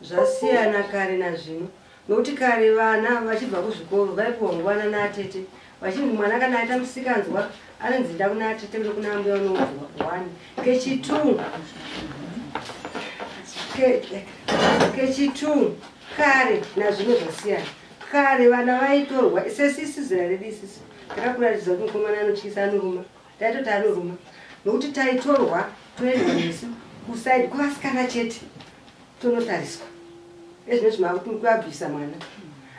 zvasiyana kare nazvino nokuti kare vana vachibva kuzvikoro vaipiwa nguvana naatete vachinzi mwana kana aita musikanzwa anonzi nda kuna atete kuda kuna ambuya unouzwa one kechitwo kechitwo kare nazvino zvasiyana kare vana vaitorwa sesisi zera redu isisi takakuratidza kuti mukomana anotyisa anoruma taitoti anoruma nokuti taitorwa toendwa nesu kusaidi kwevasikana chete tonotariswa ezvinezvi maakuti muri kuabvisa mwana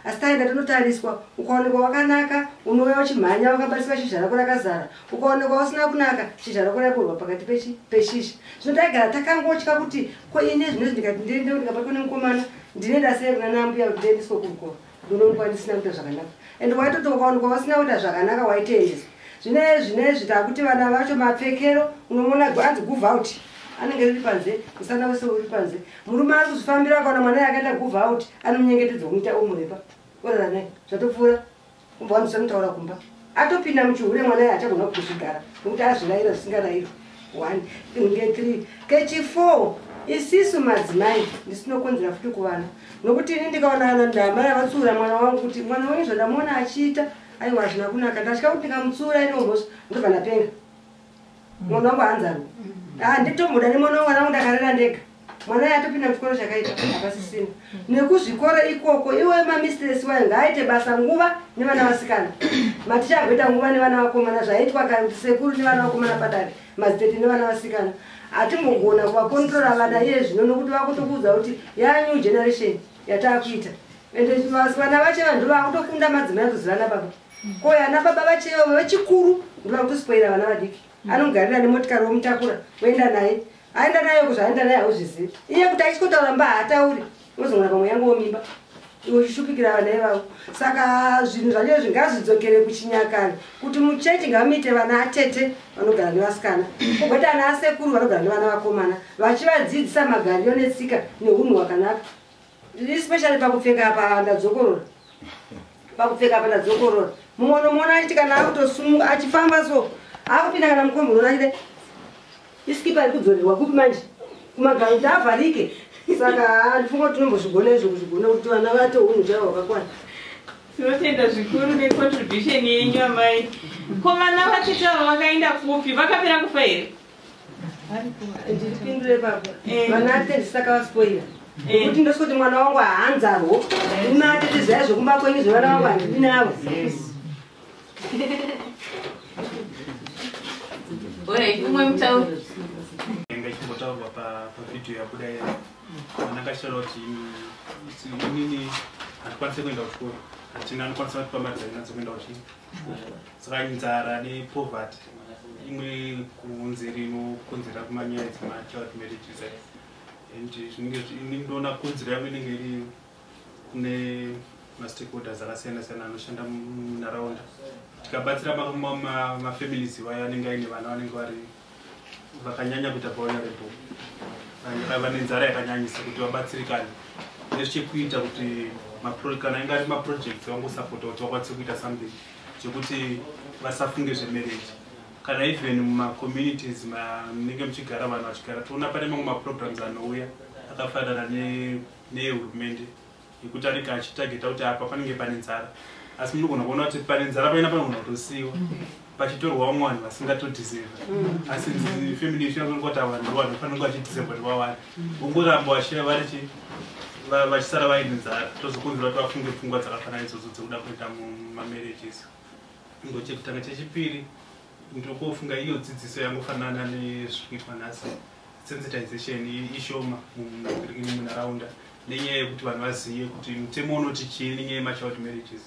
asi taenda tonotariswa ukaonekwa wakanaka unouya uchimhanya wakabatiswa shizha rako rakazara ukaonekwa usina kunaka shizha rako rakurwa pakati peshizha zvino taigara takangotya kuti ko ini ezvinezvi ndikati ndiendewo ndikabatwa nemukomana ndinoenda sei kuna nambuya kuti ndiendeswe kuko ndinoonekwa ndisina kuita zvakanaka and waitoti ukaonekwa wasina kuita zvakanaka waitoendeswa zvine zvinezvi takuti vana vacho mapfekero unomona anzi guve out anenge riri panze musana wese uri panze murume ari kuzvifambira akaona mwana yakaita guve out anomunyengetedza kumuita omurepa orara naye zvatopfuura Kumba wani semutaura kumba. Atopinda muchihure mwana yacha kuna kuzvigara. Kuti azvilaira zvisingarairo. 1 nge 3 kechi 4 isisu madzimai ndisinokonzera futi kuvana nokuti ini ndikaona ana ndamai avatsiura mwana wangu kuti mwana wenyu zvandamuona achiita aiwa hazvina kunaka ndatya kuti ndikamutsiura inohosa ndobva ndapenga munhu wangu hanzani handitomuda ah, nemwana wemwana wangu ndakarera ndega mwana ye atopinda muchikoro chakaita hapasisina nekuzvikoro ikoko iwe mamistress wayo ngaaite basa nguva nevana vasikana maticha agoita nguva nevana vakomana zvaitwa kasekuru nevana vakomana padare mazitete nevana vasikana hatimbogona kuvakontrola vana iye zvino nokuti vakutokuudza kuti yanew generation yataakuita ende vana vache vanhu vakutokunda madzimai kuzivana baba Ko yana baba vacheyo vechikuru ndivari kutispoira vana vadiki. Mm. Anogarira nemotikari womutakura woenda naye. Aenda naye kuzvaenda naye hauzvizivi. Iye kuti achikotaura mba haatauri. Unozongona pamwe yangu womimba. Iwe uchishupikira vana ivavo. Saka zvinhu zvacho zvingazvidzokere kuchinyakare kuti muchechi ngamuite vana atete vanogara nevasikana. Kugota ana asekuru vanogara nevana vakomana vachivadzidzisa magariro netsika neunhu hwakanaka. Ndiri special pakupfeka apa ndadzokorora. Pakupfeka apa ndadzokorora. Mumwe unomuona achiti kana akutosunga achifamba so akupinda kana mukombo unoona achide isikipa iri kudzorerwa kupi manje kumagaro kuti avharike saka handifunga kuti tinombozvigona izvo kuzvigona kuti vana vate unhu chaivo hwakakwana tinotenda zvikuru necontribution yenyu amai ko vana vatete avo vakaenda kupi vakapera kufa here ndipindure baba eh. vana ate ndisaka vaspoira eh. kuti ndosikuti mwana wangu haanzarwo eh. ume atete zvaya zvekumba kwenyu zvevana vangu handidi navo umwe mutauri inenge chimbotaurwa pavhidhiyo yabuda iya anakashara kuti inini handikwanise kuenda kuchikoro hatina anokwanisa kuti pamari dzainadzo kuenda kuchii saka inzara nepoverty imwe kunzeri inokonzera kumanyaya dzemachild marriages and zvinenge ndinoona kodzero yangu inenge iri kune mastakeholders akasiyana siyana anoshanda munharaunda tikabatsira mafamilies iwayo anenge aine vana vanenge vari vakanyanya kuita vulnerable vaiva nenzara yakanyanyisa kuti vabatsirikane nezvichekuita kuti kana inga ari maprojects vangosapota kuti vakwanise kuita something zvekuti vasafunge zvemarriage kana even mumacommunities manenge muchigara vanhu vachigara toona pane mamwe maprograms anouya akafanana nehurumende yekuti anenge achitageta kuti apa panenge pane nzara asi munogona kuona kuti pane nzara paina panogona kutosiyiwa mm. pachitorwa vamwe vanhu vasingatodhiserva mm. asi family yesu yakaona kuti ava ndo vanhu fanenge vachidhiserva kuti vawani vongoramba vachira vari chi vachisara vaine nzara tozokonzera kuti vafunge pfungwa dzakafanana idzodzo dzekuda kuita mumamarriages ingochekutanga chechipiri ndokofunga iyo dzidziso yangofanana nezviri kuitwa nhasi sensitization ishoma munharaunda nenyaya yekuti vanhu vazive kuti mutemo unoti chii nenyaya yemachild marriages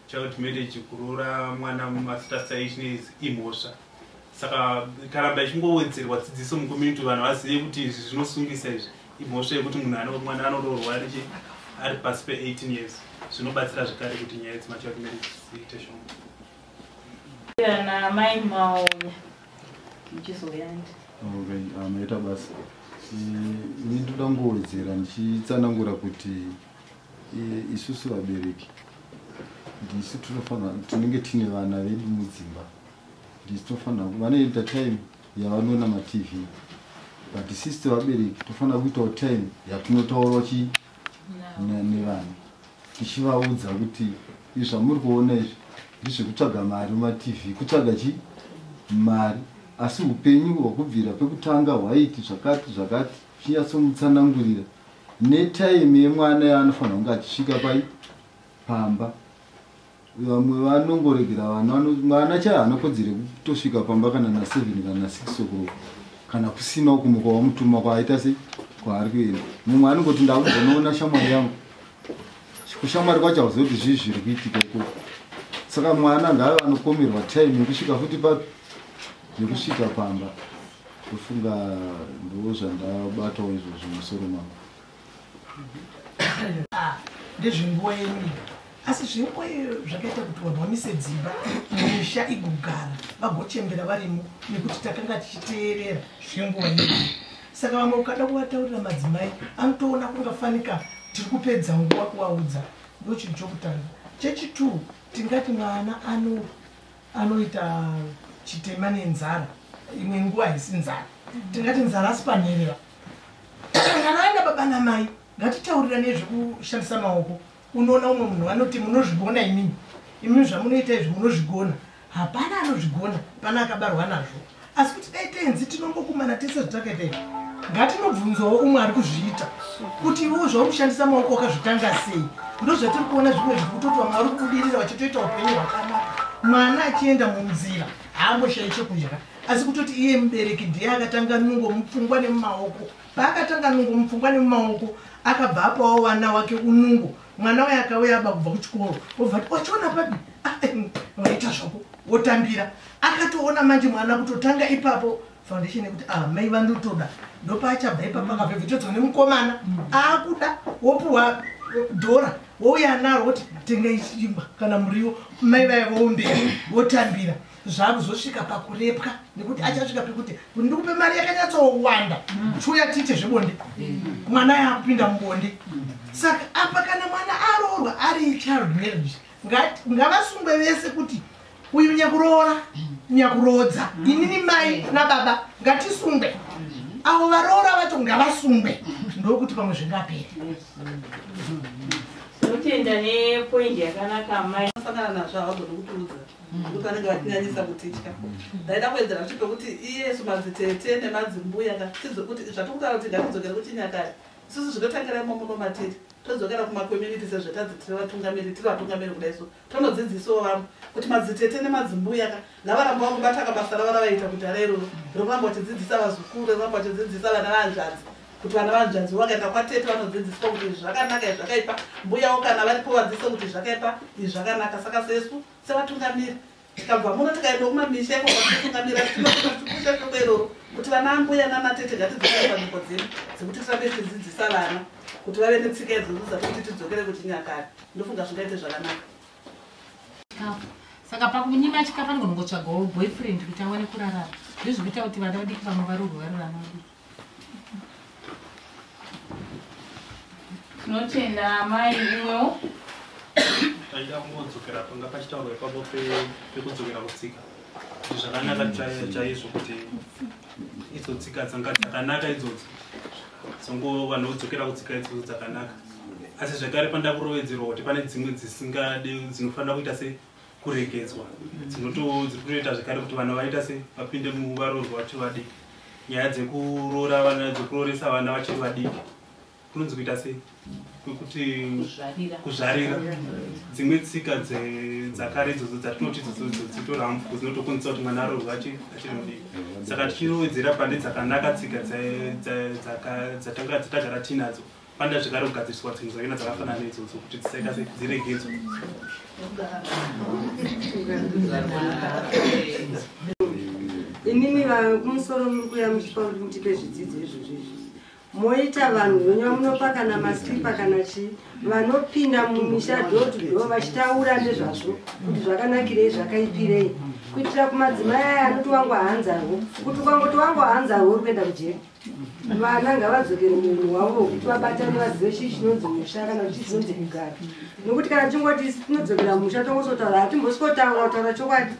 child marriage kuroora mwana mumasitasita ichine imhosva saka karamba ichingowedzerwa dzidziso mucommunity vanhu vazive kuti izvi zvinosungisa izvi imhosva yekuti munhu mwana anoroorwa ari pasi pe 18 years zvinobatsira zvekare kuti nyaya dzemachild marriages dziite shoma naamai mauya muchizoyandi maita basa ini ndoda kungowedzera ndichitsanangura kuti isusu vabereki ndisu tinofanira tinenge tiine vana vedu mudzimba ndisu tinofanira vanoita time yavanoona matv but sisi vabereki tofanira kuitawo time yatinotaurawo chi nevana tichivaudza kuti izvi zvamuri kuona izvi ndizvekutsvaga mari mumatv kutsvaga chi mari asi upenyu hwekubvira pekutanga hwaiti zvakati zvakati chinyatsomutsanangurira netaime yemwana yaanofanira kunge achisvika pai pamba vamwe vanongoregera vana mwana chai haana kodzero yekutosvika pamba kana na seven kana na six o'clock kana kusina uku muka wamutuma kwaaita sei kwaari kuenda mumwe anongoti ndakuzonoona shamwari yangu kushamwari kwacho hauziva kuti zvii zviri kuitika ikoko saka mwana ngaave anokomerwa time yekusvika futi papi yekusvika pamba ndofunga ndoo zvandabatawo izvozvo musoro mangu ah, ndezvenguva yenyu asi zvenguva iyoyo zvakaita kuti vanhu vamise dzimba misha igogara vagochembera varimo nekuti takanga tichiteerera zvenguva yedu saka vamwe ukada kuvataurira madzimai anotoona kungafanika tiri kupedza nguva kuvaudza ndochinhu chokutanga chechitwo tingati mwana ano anoita chitema nenzara imwe nguva haisi nzara tingati nzara asi panherera Kana baba namai ngatitaurira nezvekushandisa maoko unoona umwe munhu vanoti munozvigona imimi imimi zvamunoita izvi munozvigona hapana anozvigona pana akabarwa nazvo asi kuti dai tenzi tinongokumana tese zvatakaita izvi ngatinobvunzawo umwe ari kuzviita kuti iwewo zvaukushandisa maoko wakazvitanga sei ndozvatiri kuona zvimwe zviri kutoti vamwe vari kubudirira vachitoita upenyu hwakanaka mwana achienda munzira haamboshayi chekudya asi kutoti iye mubereki ndiye akatanga nungo mupfungwa nemumaoko paakatanga nungo mupfungwa nemumaoko akabva apawo vana wake unungo mwana waye akauya aba kubva kuchikoro obva ti wachiona papi ah, eh, mm, vaita zvako wotambira akatoona manje mwana kutotanga ipapo foundation yekuti ah, mai vandotoda ndopaachabva ipapo akavhevhitodzwa nemukomana aakuda wopuhwa dhora wouya naro woti tenga ichimba kana muriwo mai vaye voumbera wotambira zvakuzosvika pakurepwa nekuti achasvika pekuti ndikupe mari yakanyatsowanda chiuya tiite zvebonde mwana yakupinda mubonde saka apa kana mwana aroorwa ari child marriage ngavasungwe vese kuti uyu nyakuroora nyakuroodza inini mai nababa ngatisungwe avo varoora vacho ngavasungwe ndokuti pamwe zvingaperi totenda nepoindi yakanaka mai kuti vanenge vatinyanyisa kutitya ndaida kuedzera kuti pekuti iyesu madzitete nemadzimbuya ngatidzidze kuti zvatikutaura kuti ngatidzokere kuchinyakare isusu zvinotangira imo muno matiri todzokera kumacommunity sezvetadzidzire vatungamiri tiri vatungamiri kuda isu tonodzidzisawo vamwe kuti madzitete nemadzimbuya ka ngavarambawo kubata kabasa ravo ravaita kuti ara iroro rekuramba vachidzidzisa vazukuru rekuramba vachidzidzisa vana vanzvadzi kuti vana vanzvanzi vakaenda kwatete vanodzidziswa kuti izvi zvakanaka izvi zvakaipa mbuyawo kana varipo vadzidzisa kuti izvi zvakaipa izvi zvakanaka saka sesu sevatungamiri tikabva muno tikaenda kumamisha iko kwatitungamira tinokushusha shoko iroro kuti vana ambuya nanatete ngatidzokere panzvimbo dzedu dzekuti tirambe tichidzidzisa vana kuti vave netsika idzodzodza kuti tidzokere kuchinyakare ndofunga zvingaite zvakanaka saka pakunyima chikafanira kunongotsvagawo boyfriend kuti awane kurarama ndizvikuita kuti vana vadiki vamwe varurwe varurama tinotenda amai imwewo taida kungodzokera panga pachitaurwa ipapo pekudzokera kutsika zvakanaka chaizvo kuti idzo tsika dzanga dzakanaka idzodzo dzongo vanhu vodzokera kutsika idzodzo dzakanaka asi zvekare panda kurovedzerwa kuti pane dzimwe dzisingade dzinofanira kuita se kuregedzwa dzinoto dziri kutoita zvekare kuti vana vaita se vapinde muvaroorwa vachiri vadiki nyaya dzekuroora vana dzekurooresa vana vachiri vadiki kunonzi kuita sei kwekuti kuzvarira dzimwe tsika dzakare idzodzo dzatinoti idzodzo dzitorambwa dzinotokonzesa kuti mwana aroorwa achiri mudiki saka tichirowedzera pane dzakanaka tsika dzatagara tiinadzo panda zvekare kugadziriswa tsinga dzakena dzakafanana neidzodzo kuti dzisaita se dziregedzwe imimi vakumusoro muri kuya muchipa kuti mutipe zvidzidzo izvozvo izvi moita vanhu venyu vamunopa kana masipa kana chii vanopinda mumisha dotudo vachitaura nezvazvo kuti zvakanakirei zvakaipirei kuitira kumadzimai aya anoti wangu haanzarwo kuti ukangoti wangu haanzarwo uri kuenda kujeri vana ngavadzokere munhu wavo wekuti vabatane vazive chii chinonzi musha kana kuti chinonzi kugara nokuti kana tingoti tinodzokera musha tongozotaura hatimbosikotanga kutaura chokwadi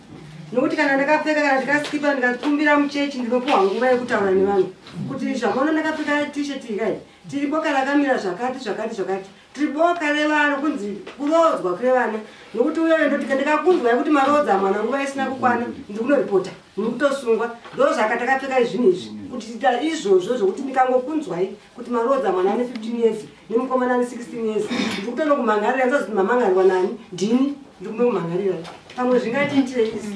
nokuti kana ndakapfeka kana ndikasikipa ndikatumbira muchechi ndinopuwa nguva yekutaura nevanhu kuti zvamaona ndakapfeka tishet ikai tiripo kana kamira zvakati zvakati zvakati Tiriboka revana kunzi kuroodzwa kwevana nokuti uyoyo ndoti ndikakunzwa yekuti maroodza mwana nguva isina kukwana ndi kunoripota mukutosungwa ndozvaka takapfeka izvinhu izvi kuti ita izvozvo zvokuti ndikangokunzwai kuti maroodza mwana ane 15 years nemukomana ane 16 years ndikutonokumhangarira ndozoti mamhangarirwa nani ndini ndikunokumhangarira pamwe zvingatiitirei isi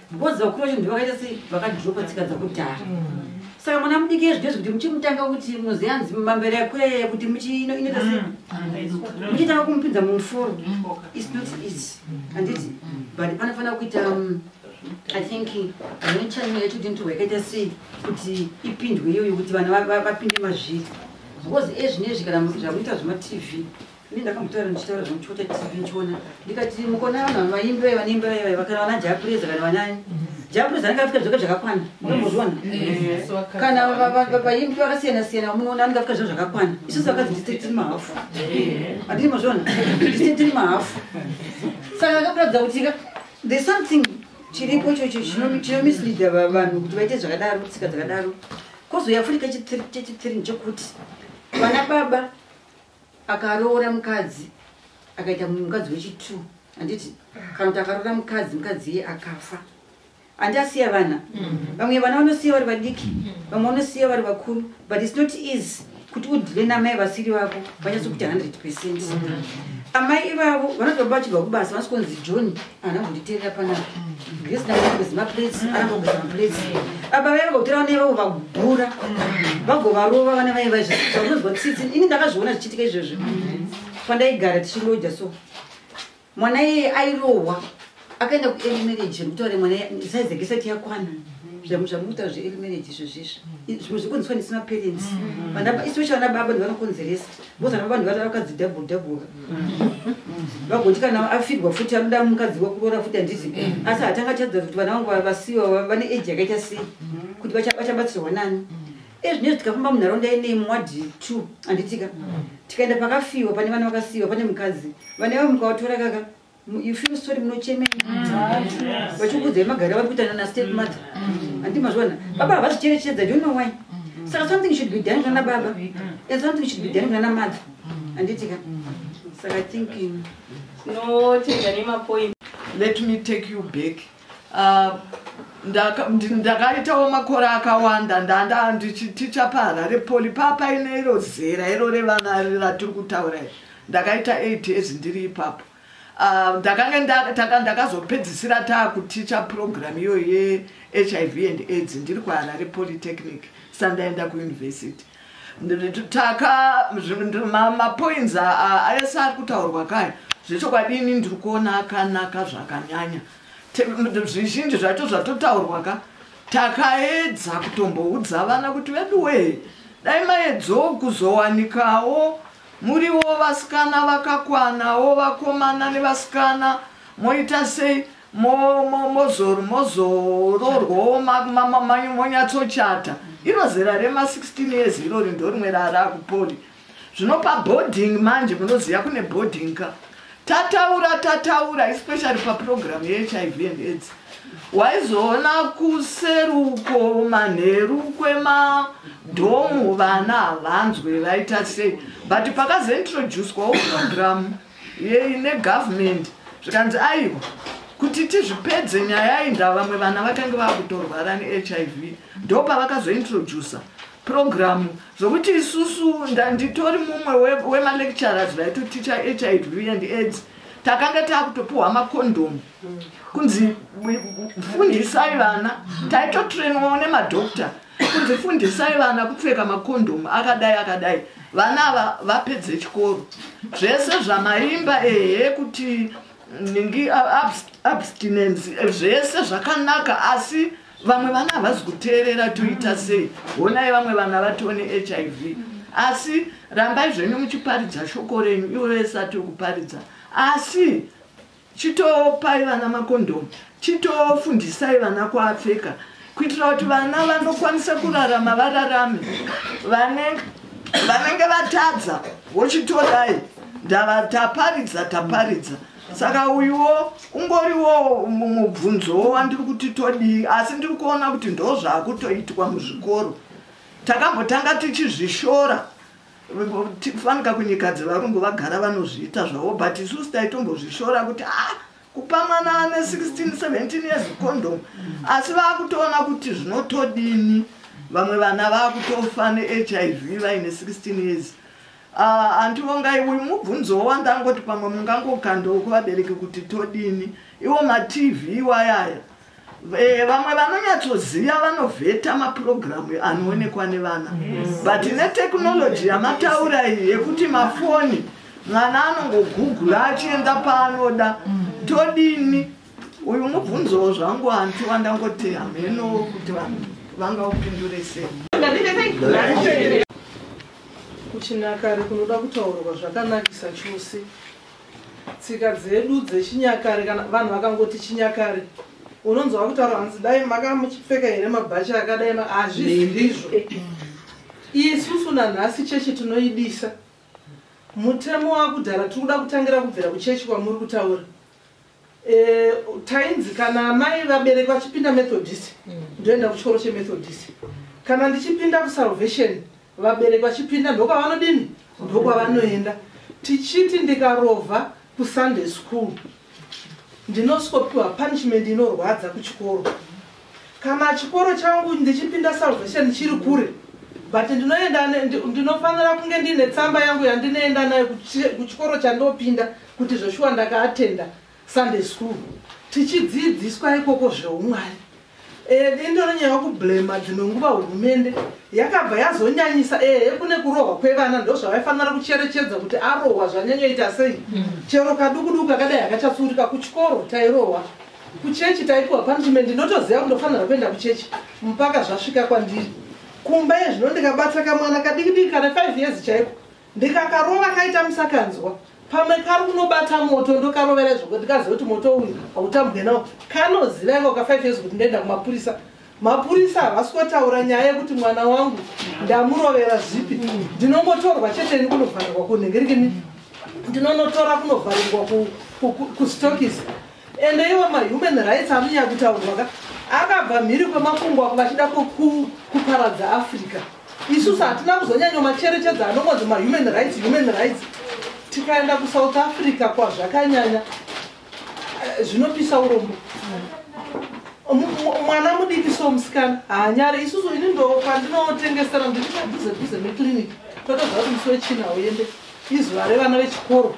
Because vakuru vacho ndivo vakaita sei vakadropa tsika dzakudhara. Saka mwana mudiki iye zvinezvi kuti muchimutanga kuti munoziva hanzi mambere yakurere kuti muchiino inoita sei. Muchitanga kumupinza mumuforo. It's not easy. Handiti? But panofanira kuita um, I think vane channel yacho kuti ndirwa yakaita sei kuti ipindwe iyoyo kuti vana va- va- vapinde mazviri. Because ezvinezvi kana mu- zvakuita zvematv Ini ndakamutaura ndichitaura zvangu chikota TV ndichiona ndikati mukona vanhu vaimbi vaiva neimba vaiva vaiva kana vana Japureza kana vanani Japureza anenge afika zvoka zvakakwana unozviona kana vaimbi vakasiyana siyana vamunoona anenge afika zvoka zvakakwana isusu vakadzi ndise tiri mahafu andini mozviona ndise tiri mahafu saka akakuratidza kuti ka the something chiripo ichocho chinomisleada vanhu kuti vaite zvakadaro tsika dzakadaro kozouya furika chechithirini chokuti vana baba akaroora mukadzi akaita mumwe mukadzi wechitu handiti kana kuti akaroora mukadzi mukadzi iye akafa handi asiya vana mm-hmm. vamwe vana vanosiya vari vadiki mm-hmm. vamwe vanosiya vari vakuru but its not easy kuti udhile namai vasiri vako vanyatsokuita 100 percent mm-hmm. amai ivavo vanotoba vachibva kubasa vanosi kunzi john ana kunditerera panapa gesi ndakugeza maplates anakugeza maplates baba vaye vagotora vana ivavo vagura vagovarova vana vaye vaizvaunonzwa tsitsi ini ndakazviona zvichiitika izvozvo pandaigara tichingoja so mwana iyeye airohwa akaenda kuearly marriage zvekutaura mwana saize gesati yakwana zvamutaura zveearly marriage izvozvizvo zvimwe zvekuonziswa ndisina parents especially vana baba ndivanokonzeresa Vozana vanhu vata vakadzi double double. Vagoti kana afirwa futi anoda mukadzi wekuroora futi handizi. Asi hatanga chadza kuti vana vangu vasiwa vane age yakaita sei kuti vachabatsirwa nani. Ezvinezvi tikafamba munharaunda ine mwadi 2 handitika. Tikaenda pakafiwa pane vana vakasiwa pane mukadzi. Vana vavo mukawatora kaka you feel sorry munochemei vachikuudzai magari avari kuita nana step mother handi mazviona baba havazvicherechedza do know why saka something should be done kunana baba and something should be done kunana mother handitika saka think um, no tega nemapoint let me take you back Ah, ndakaitawo makore akawanda ndanda ndichiticha paharare poli paa paine iro zera iro revana ratiri kutaura izvi ndakaita eight years ndiri ipapo ah, ndakange ndakazopedzisira taakuticha program iyoyo yehiv and aids ndiri kwaharare polytechnic sandaenda kuuniversity taka mapoints ayese ari kutaurwa kaya zvechokwadi ini ndiri kuona akanaka zvakanyanya zvizhinji zvacho zvatotaurwa ka takaedza kutomboudza vana kuti veduwee dai maedzawo kuzowanikawo muriwo vasikana vakakwanawo vakomana nevasikana moita sei mozororwawo monyatsochata iro zera rema 16 years irori ndorimwe raaraakupoli zvino paboarding manje munoziva kune boarding ka tataura tataura especially paprogramu yehiv and aids waizoona kuseruko manheru kwemadhomu vana havanzwe vaita sei but pakazointroducwawo programu negovernment zvikanzi aiwa kuti tizvipedze nyaya iyi ndaa vamwe vana vakange vava kutorwara nehiv ndo pavakazointroducer program zvokuti isusu ndanditori mumwe wemalecturers vaitoticha hiv and aids takanga taakutopiwa makondomu kunzi fundisai vana taitotrainwawo nemadoctor kunzi fundisai vana kupfeka makondhomu akadai akadai vana ava vapedze chikoro zvese zvamaimba ehe kuti ningi abstinence zvese zvakanaka asi vamwe vana havazi kuteerera toita sei honai vamwe vana vatoo nehiv asi rambai zvenyu muchiparidza shoko renyu ivo vese atiri kuparidza asi Chitopai vana makondhomu, chitofundisai vana kuapfeka kuitira kuti vana vanokwanisa kurarama vararame. Vanenge vanenge vatadza vochitorai ndava taparidza taparidza saka uyuwo ungoriwo mubvunzowo wandiri kuti todii asi ndiri kuona kuti ndozvakutoitwa muzvikoro takambotanga tichizvishora fanika kunyikadzi varungu vagara vanozviita zvavo but isusu taitombozvishora kuti a ah, kupa mwana ane 16 17 years condom asi vakutoona kuti zvinotodini vamwe vana vakutofa nehiv vaine 16 years ah, andivongai uyu mubvunzo wandangoti pamwe mungangokandoo kuvabereki kuti todini iwo matv iwayaya Eh, vamwe vanonyatsoziva vanovheta mapurogiramu anoonekwa nevana but netechnology yamataura iyi yekuti mafoni mwana anongogugula achienda paanoda todini uyu mubvunzowo zvangu hanti wandangoti hameno kuti vanhu vanga upindure sei kuchinakare kunoda kutaurwa zvakanakisa chose Tsika dzedu dzechinyakare kana vanhu vakangoti chinyakare unonzwa kutaura hanzi dai maka muchipfeka here mabhachi akadai hazvisi ndizvo isusu nanhasi chechi tinoidisa mutemo wakudhara tiri kuda kutangira kubvira kuchechi kwamuri kutaura Eh, tainzi kana amai vabereki vachipinda methodist mm. ndoenda kuchikoro chemethodist kana ndichipinda kusalvation vabereki vachipinda ndokwavanodini ndokwavanoenda tichiti ndikarova kusunday school ndinosikopiwa punishment inorwadza kuchikoro kana chikoro changu ndichipinda salvation chiri kure but ndinoenda ndinofanira kunge ndiine tsamba yangu yandinoenda nayo kuchikoro chandopinda kuti zveshuwa ndakaatenda sunday school tichidzidziswa ikoko zveumwari eh, dendo renyaya kublema dzimwe nguva hurumende yakabva yazonyanyisa ehe eh, kune kurohwa kwevana ndozvavaifanira kucherechedza kuti arohwa zvanyanyoita sei mm. chero kadukuduku kakadai akachatsuurika kuchikoro tairohwa kuchechi taipiwa punishment ndinotoziva kundofanira kuenda kuchechi mpaka zvasvika kwandiri kumba yezvino ndikabatsa kamwana kadikidiki kana 5 years chaiko ndikakarova kaita musakanzwa pamwe kari kunobata moto ndokarovera izvoko ndikaziva kuti moto uyu hautambwe nawo kanoziva inga uka five years kuti ndoenda kumapurisa mapurisa havasi kotaura nyaya yekuti mwana wangu ndamurovera zvipi ndinongotorwa chete ini kunovharirwa kunhengerikini ndinonotora kunovharirwa kustokisi ende iwo mahuman rights amunya kutaurwa ka akabva mhiri kwemakungwa kunga achida kuparadza africa isusu hatina kuzonyanyo macherechedza anongonzi mahuman rights human rights tikaenda kusouth africa kwazvakanyanya eh, zvinopisa urombo mwana mudiki so musikana haanyare isusu ini ndo pandinotengesera ndiri padhuze dhuze meclinic totoziva kuti musi wechina uyende Izuva revana vechikoro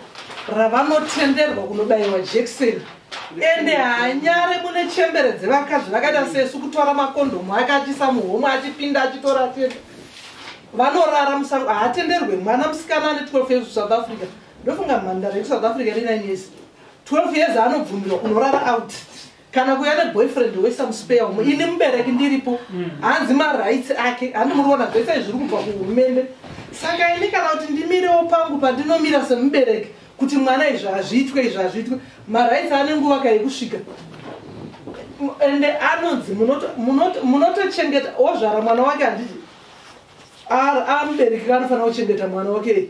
ravanotenderwa kunobaiwa jekiseni ende hanyare mune chembere dzevakadzi vakaita sesu kutora makondhomu ake achisa muhomwe achipinda achitora achienda vanorara musango haatenderwe mwana musikana ane 12 years kusouth africa ndofunga mhandara yekusouth africa ine 9 years 12 years anobvumirwa kunorara out kana kuya neboyfriend wesome spare umo ini mubereki ndiripo mm. hanzi marights ake handi muri kuona zvese zviri kubva kuhurumende saka ini kana kuti ndimirewo pangu pandinomira semubereki kuti mwana izvi hazviitwe izvi hazviitwe marights ane nguva ka yekusvika ende anonzi munotochengeta ozvara mwana wake handiti amubereki kanofanira kuchengeta mwana wake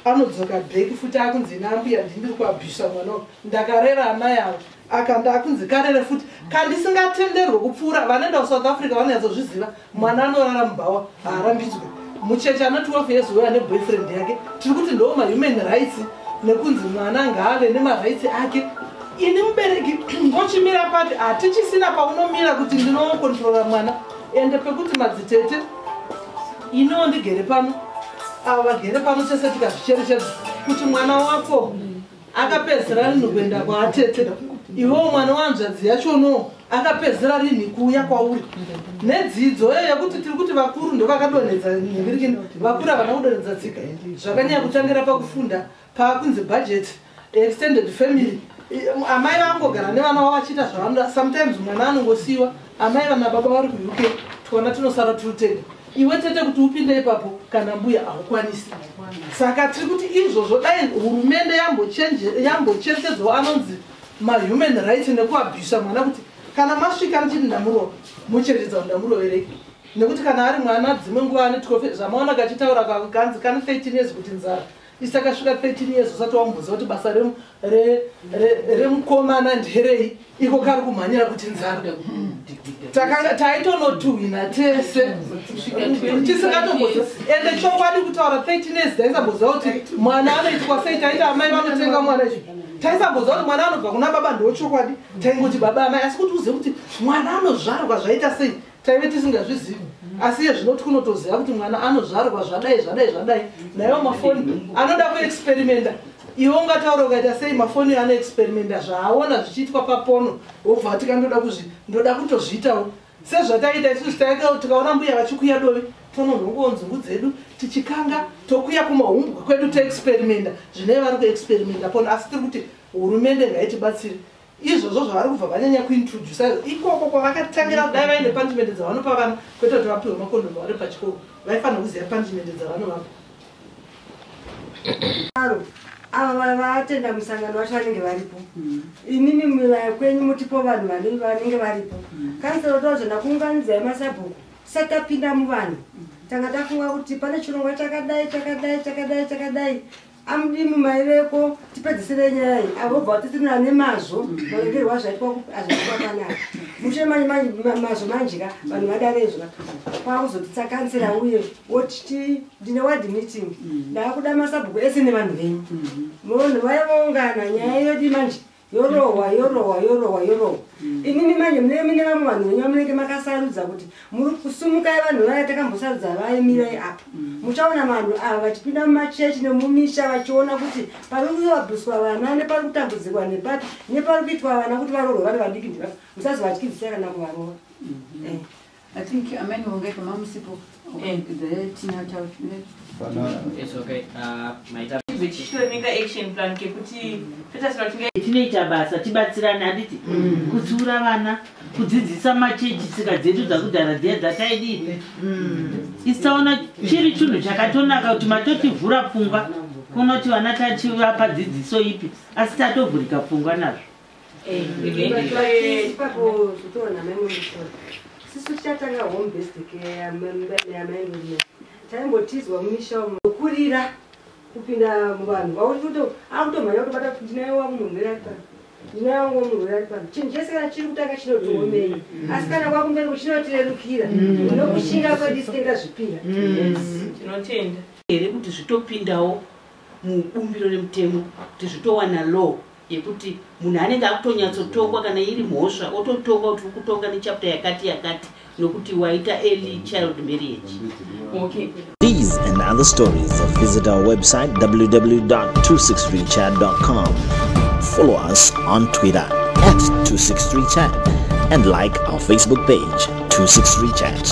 anodzoka back futi akunzi nambuya ndindiri kuabhisa mwana uyu ndakarera ana yavo akanda akunzi karere futi kandisingatenderwe kupfuura vanoenda kusouth africa vanonyatsozviziva mwana anorara mubhawa haarambidzwe mucheche ana 12 years uyo ane boyfriend yake tiri kuti ndoo mahuman rights nekunzi mwana ngaave nemarights ake ini mubereki ndochimira pati hatichisina paunomira kuti ndinokontrola mwana ende pekuti madzitete iniwo ndigere pano avo vagere pano tese tikazvicherechedza kuti mwana wako akapedzera rinhu kuenda kwaatete iwewo mwana wanzvadzi yachono akapedzera rinhi kuuya kwauri nedzidzo iyo yekuti tiri kuti vakuru ndovakadonhedza nhingirikini vakuru havana kudonhedza tsika zvakanyaya kutangira pakufunda pakunzi budget extended family amai vangogara nevana vavo vachiita zvavanoda sometimes mwana anongosiyiwa amai vana baba vari kuuk twana tinosara tiri tega iwe tete kuti upinde ipapo kana mbuya haukwanisi saka tiri kuti izvozvo dai hurumende yambocherechedzawo anonzi mahuman right nekuabhisa mwana kuti kana masvika ndichiti ndamurova mucherechedza kuti ndamuroverei nekuti kana ari mwana dzimwe nguva anetikofe zvamaona kachitaura kanzi kana 13 years kuti nzara isakasvika 13 years usati wamubvunza kuti basa remukomana nderei iko kari kumhanyira kuti nzara takanga taitonotuhwina tese tisingatombozi ende chokwadi kutaura 13 years taisamboziva kuti mwana anoitwa sei taita amai vanotenga mwana chi taisamboziva kuti mwana anobva kuna baba ndochokwadi taingoti baba amai asi kuti uzive kuti mwana anozvarwa zvaita sei taive tisingazvizivi asi iye zvinoti kunotoziva kuti mwana anozvarwa zvadai zvadai zvadai naiwo mafoni anoda kuexperimenta iwe ungataura ukaita sei mafoni yo anoexperimenta zvaaona zvichiitwa papono wobva ati ka ndoda kuzvi ndoda kutozviitawo sezvataiita isusu taika tikaona mbuya vachikuya dovi tononhongowo nzungu dzedu tichikanga tokuya kumahumbwa kwedu toexperimenta zvinei vari kuexperimenta pono asi tiri kuti hurumende ngaitibatsiri izvozvo zvavari kubva vanyanya kuintrodusa izvo ikoko kwavakatangira kudai vaine punishment dzavanopa vana kwete kuti vapihwe makondomu vari pachikoro vaifanira kuziva punishment dzavanovapa aro ava vaya vatenda musangano vacho vanenge varipo mm. inini mivaya kwenyu mutipo vanhu vanenge varipo mm. kansero tozvenda kuunganidzai masabhuku tisati tapinda muvanhu mm. tanga tafunga kuti pane chirongwa chakadai chakadai chakadai chakadai amdimu mai veko tipedzisire nyaya iyi avobva vatitirina nemazvo maregerwo azvaitwa azvaitwakanaka mushe mazvo manjika vanhu vadarezva kwakuzotitsakansira uye woti ndine ward meeting mm. ndaakuda masabhuku ese nevanhu venyu mm-hmm. munhu vaivaungana nyaya yodi manje yorohwa yorohwa yorohwa yorohwa mm. inini manje mune mine vamwe vanhu venyu vamunenge makasarudza kuti muri kusumukai vanhu vaya takambosarudza vaye mirai apa mm. muchaona vanhu ava vachipinda mumachechi nemumisha vachiona kuti pari kuvabuswa vana nepari kutambudzirwa nepapi nepari kuitwa vana kuti varohwe vari vadiki ndiva musazovatyidzisai kana kuvarova mm-hmm. eh. I think amai vongai kama musipo eh. tinoita basa tibatsirane handiti mm. kutsiura vana kudzidzisa machechi tsika dzedu dzakudhara dziya dzataidii mm. isaona chiri chinhu chakatonaka kuti matotivhura pfungwa kunoti vana tachivapa dzidziso ipi asi tatovhurika pfungwa nazvo taimbotizwa mumisha kurira kupinda muvanhu vauri kuti akutomhanya kutobata kuti ndinaye wangu munhu uri aripa ndinaye wangu munhu uri aripa chinhu chese kana chiri kutanga chinotiomei mm. asi kana kwakumberi kuchinotirerukira mm. nokushinga kwedu sitenga zvipira mm. tinotenda here kuti zvitopindawo mubumbiro remutemo kuti zvitowana law yekuti munhu anenge akutonyatsotongwa kana iri mhosva ototongwa kuti uri kutonga nechapter yakati yakati nokuti waita early child marriage okay. These and other stories, visit our website www.263chat.com. Follow us on Twitter at 263chat and like our Facebook page 263chat.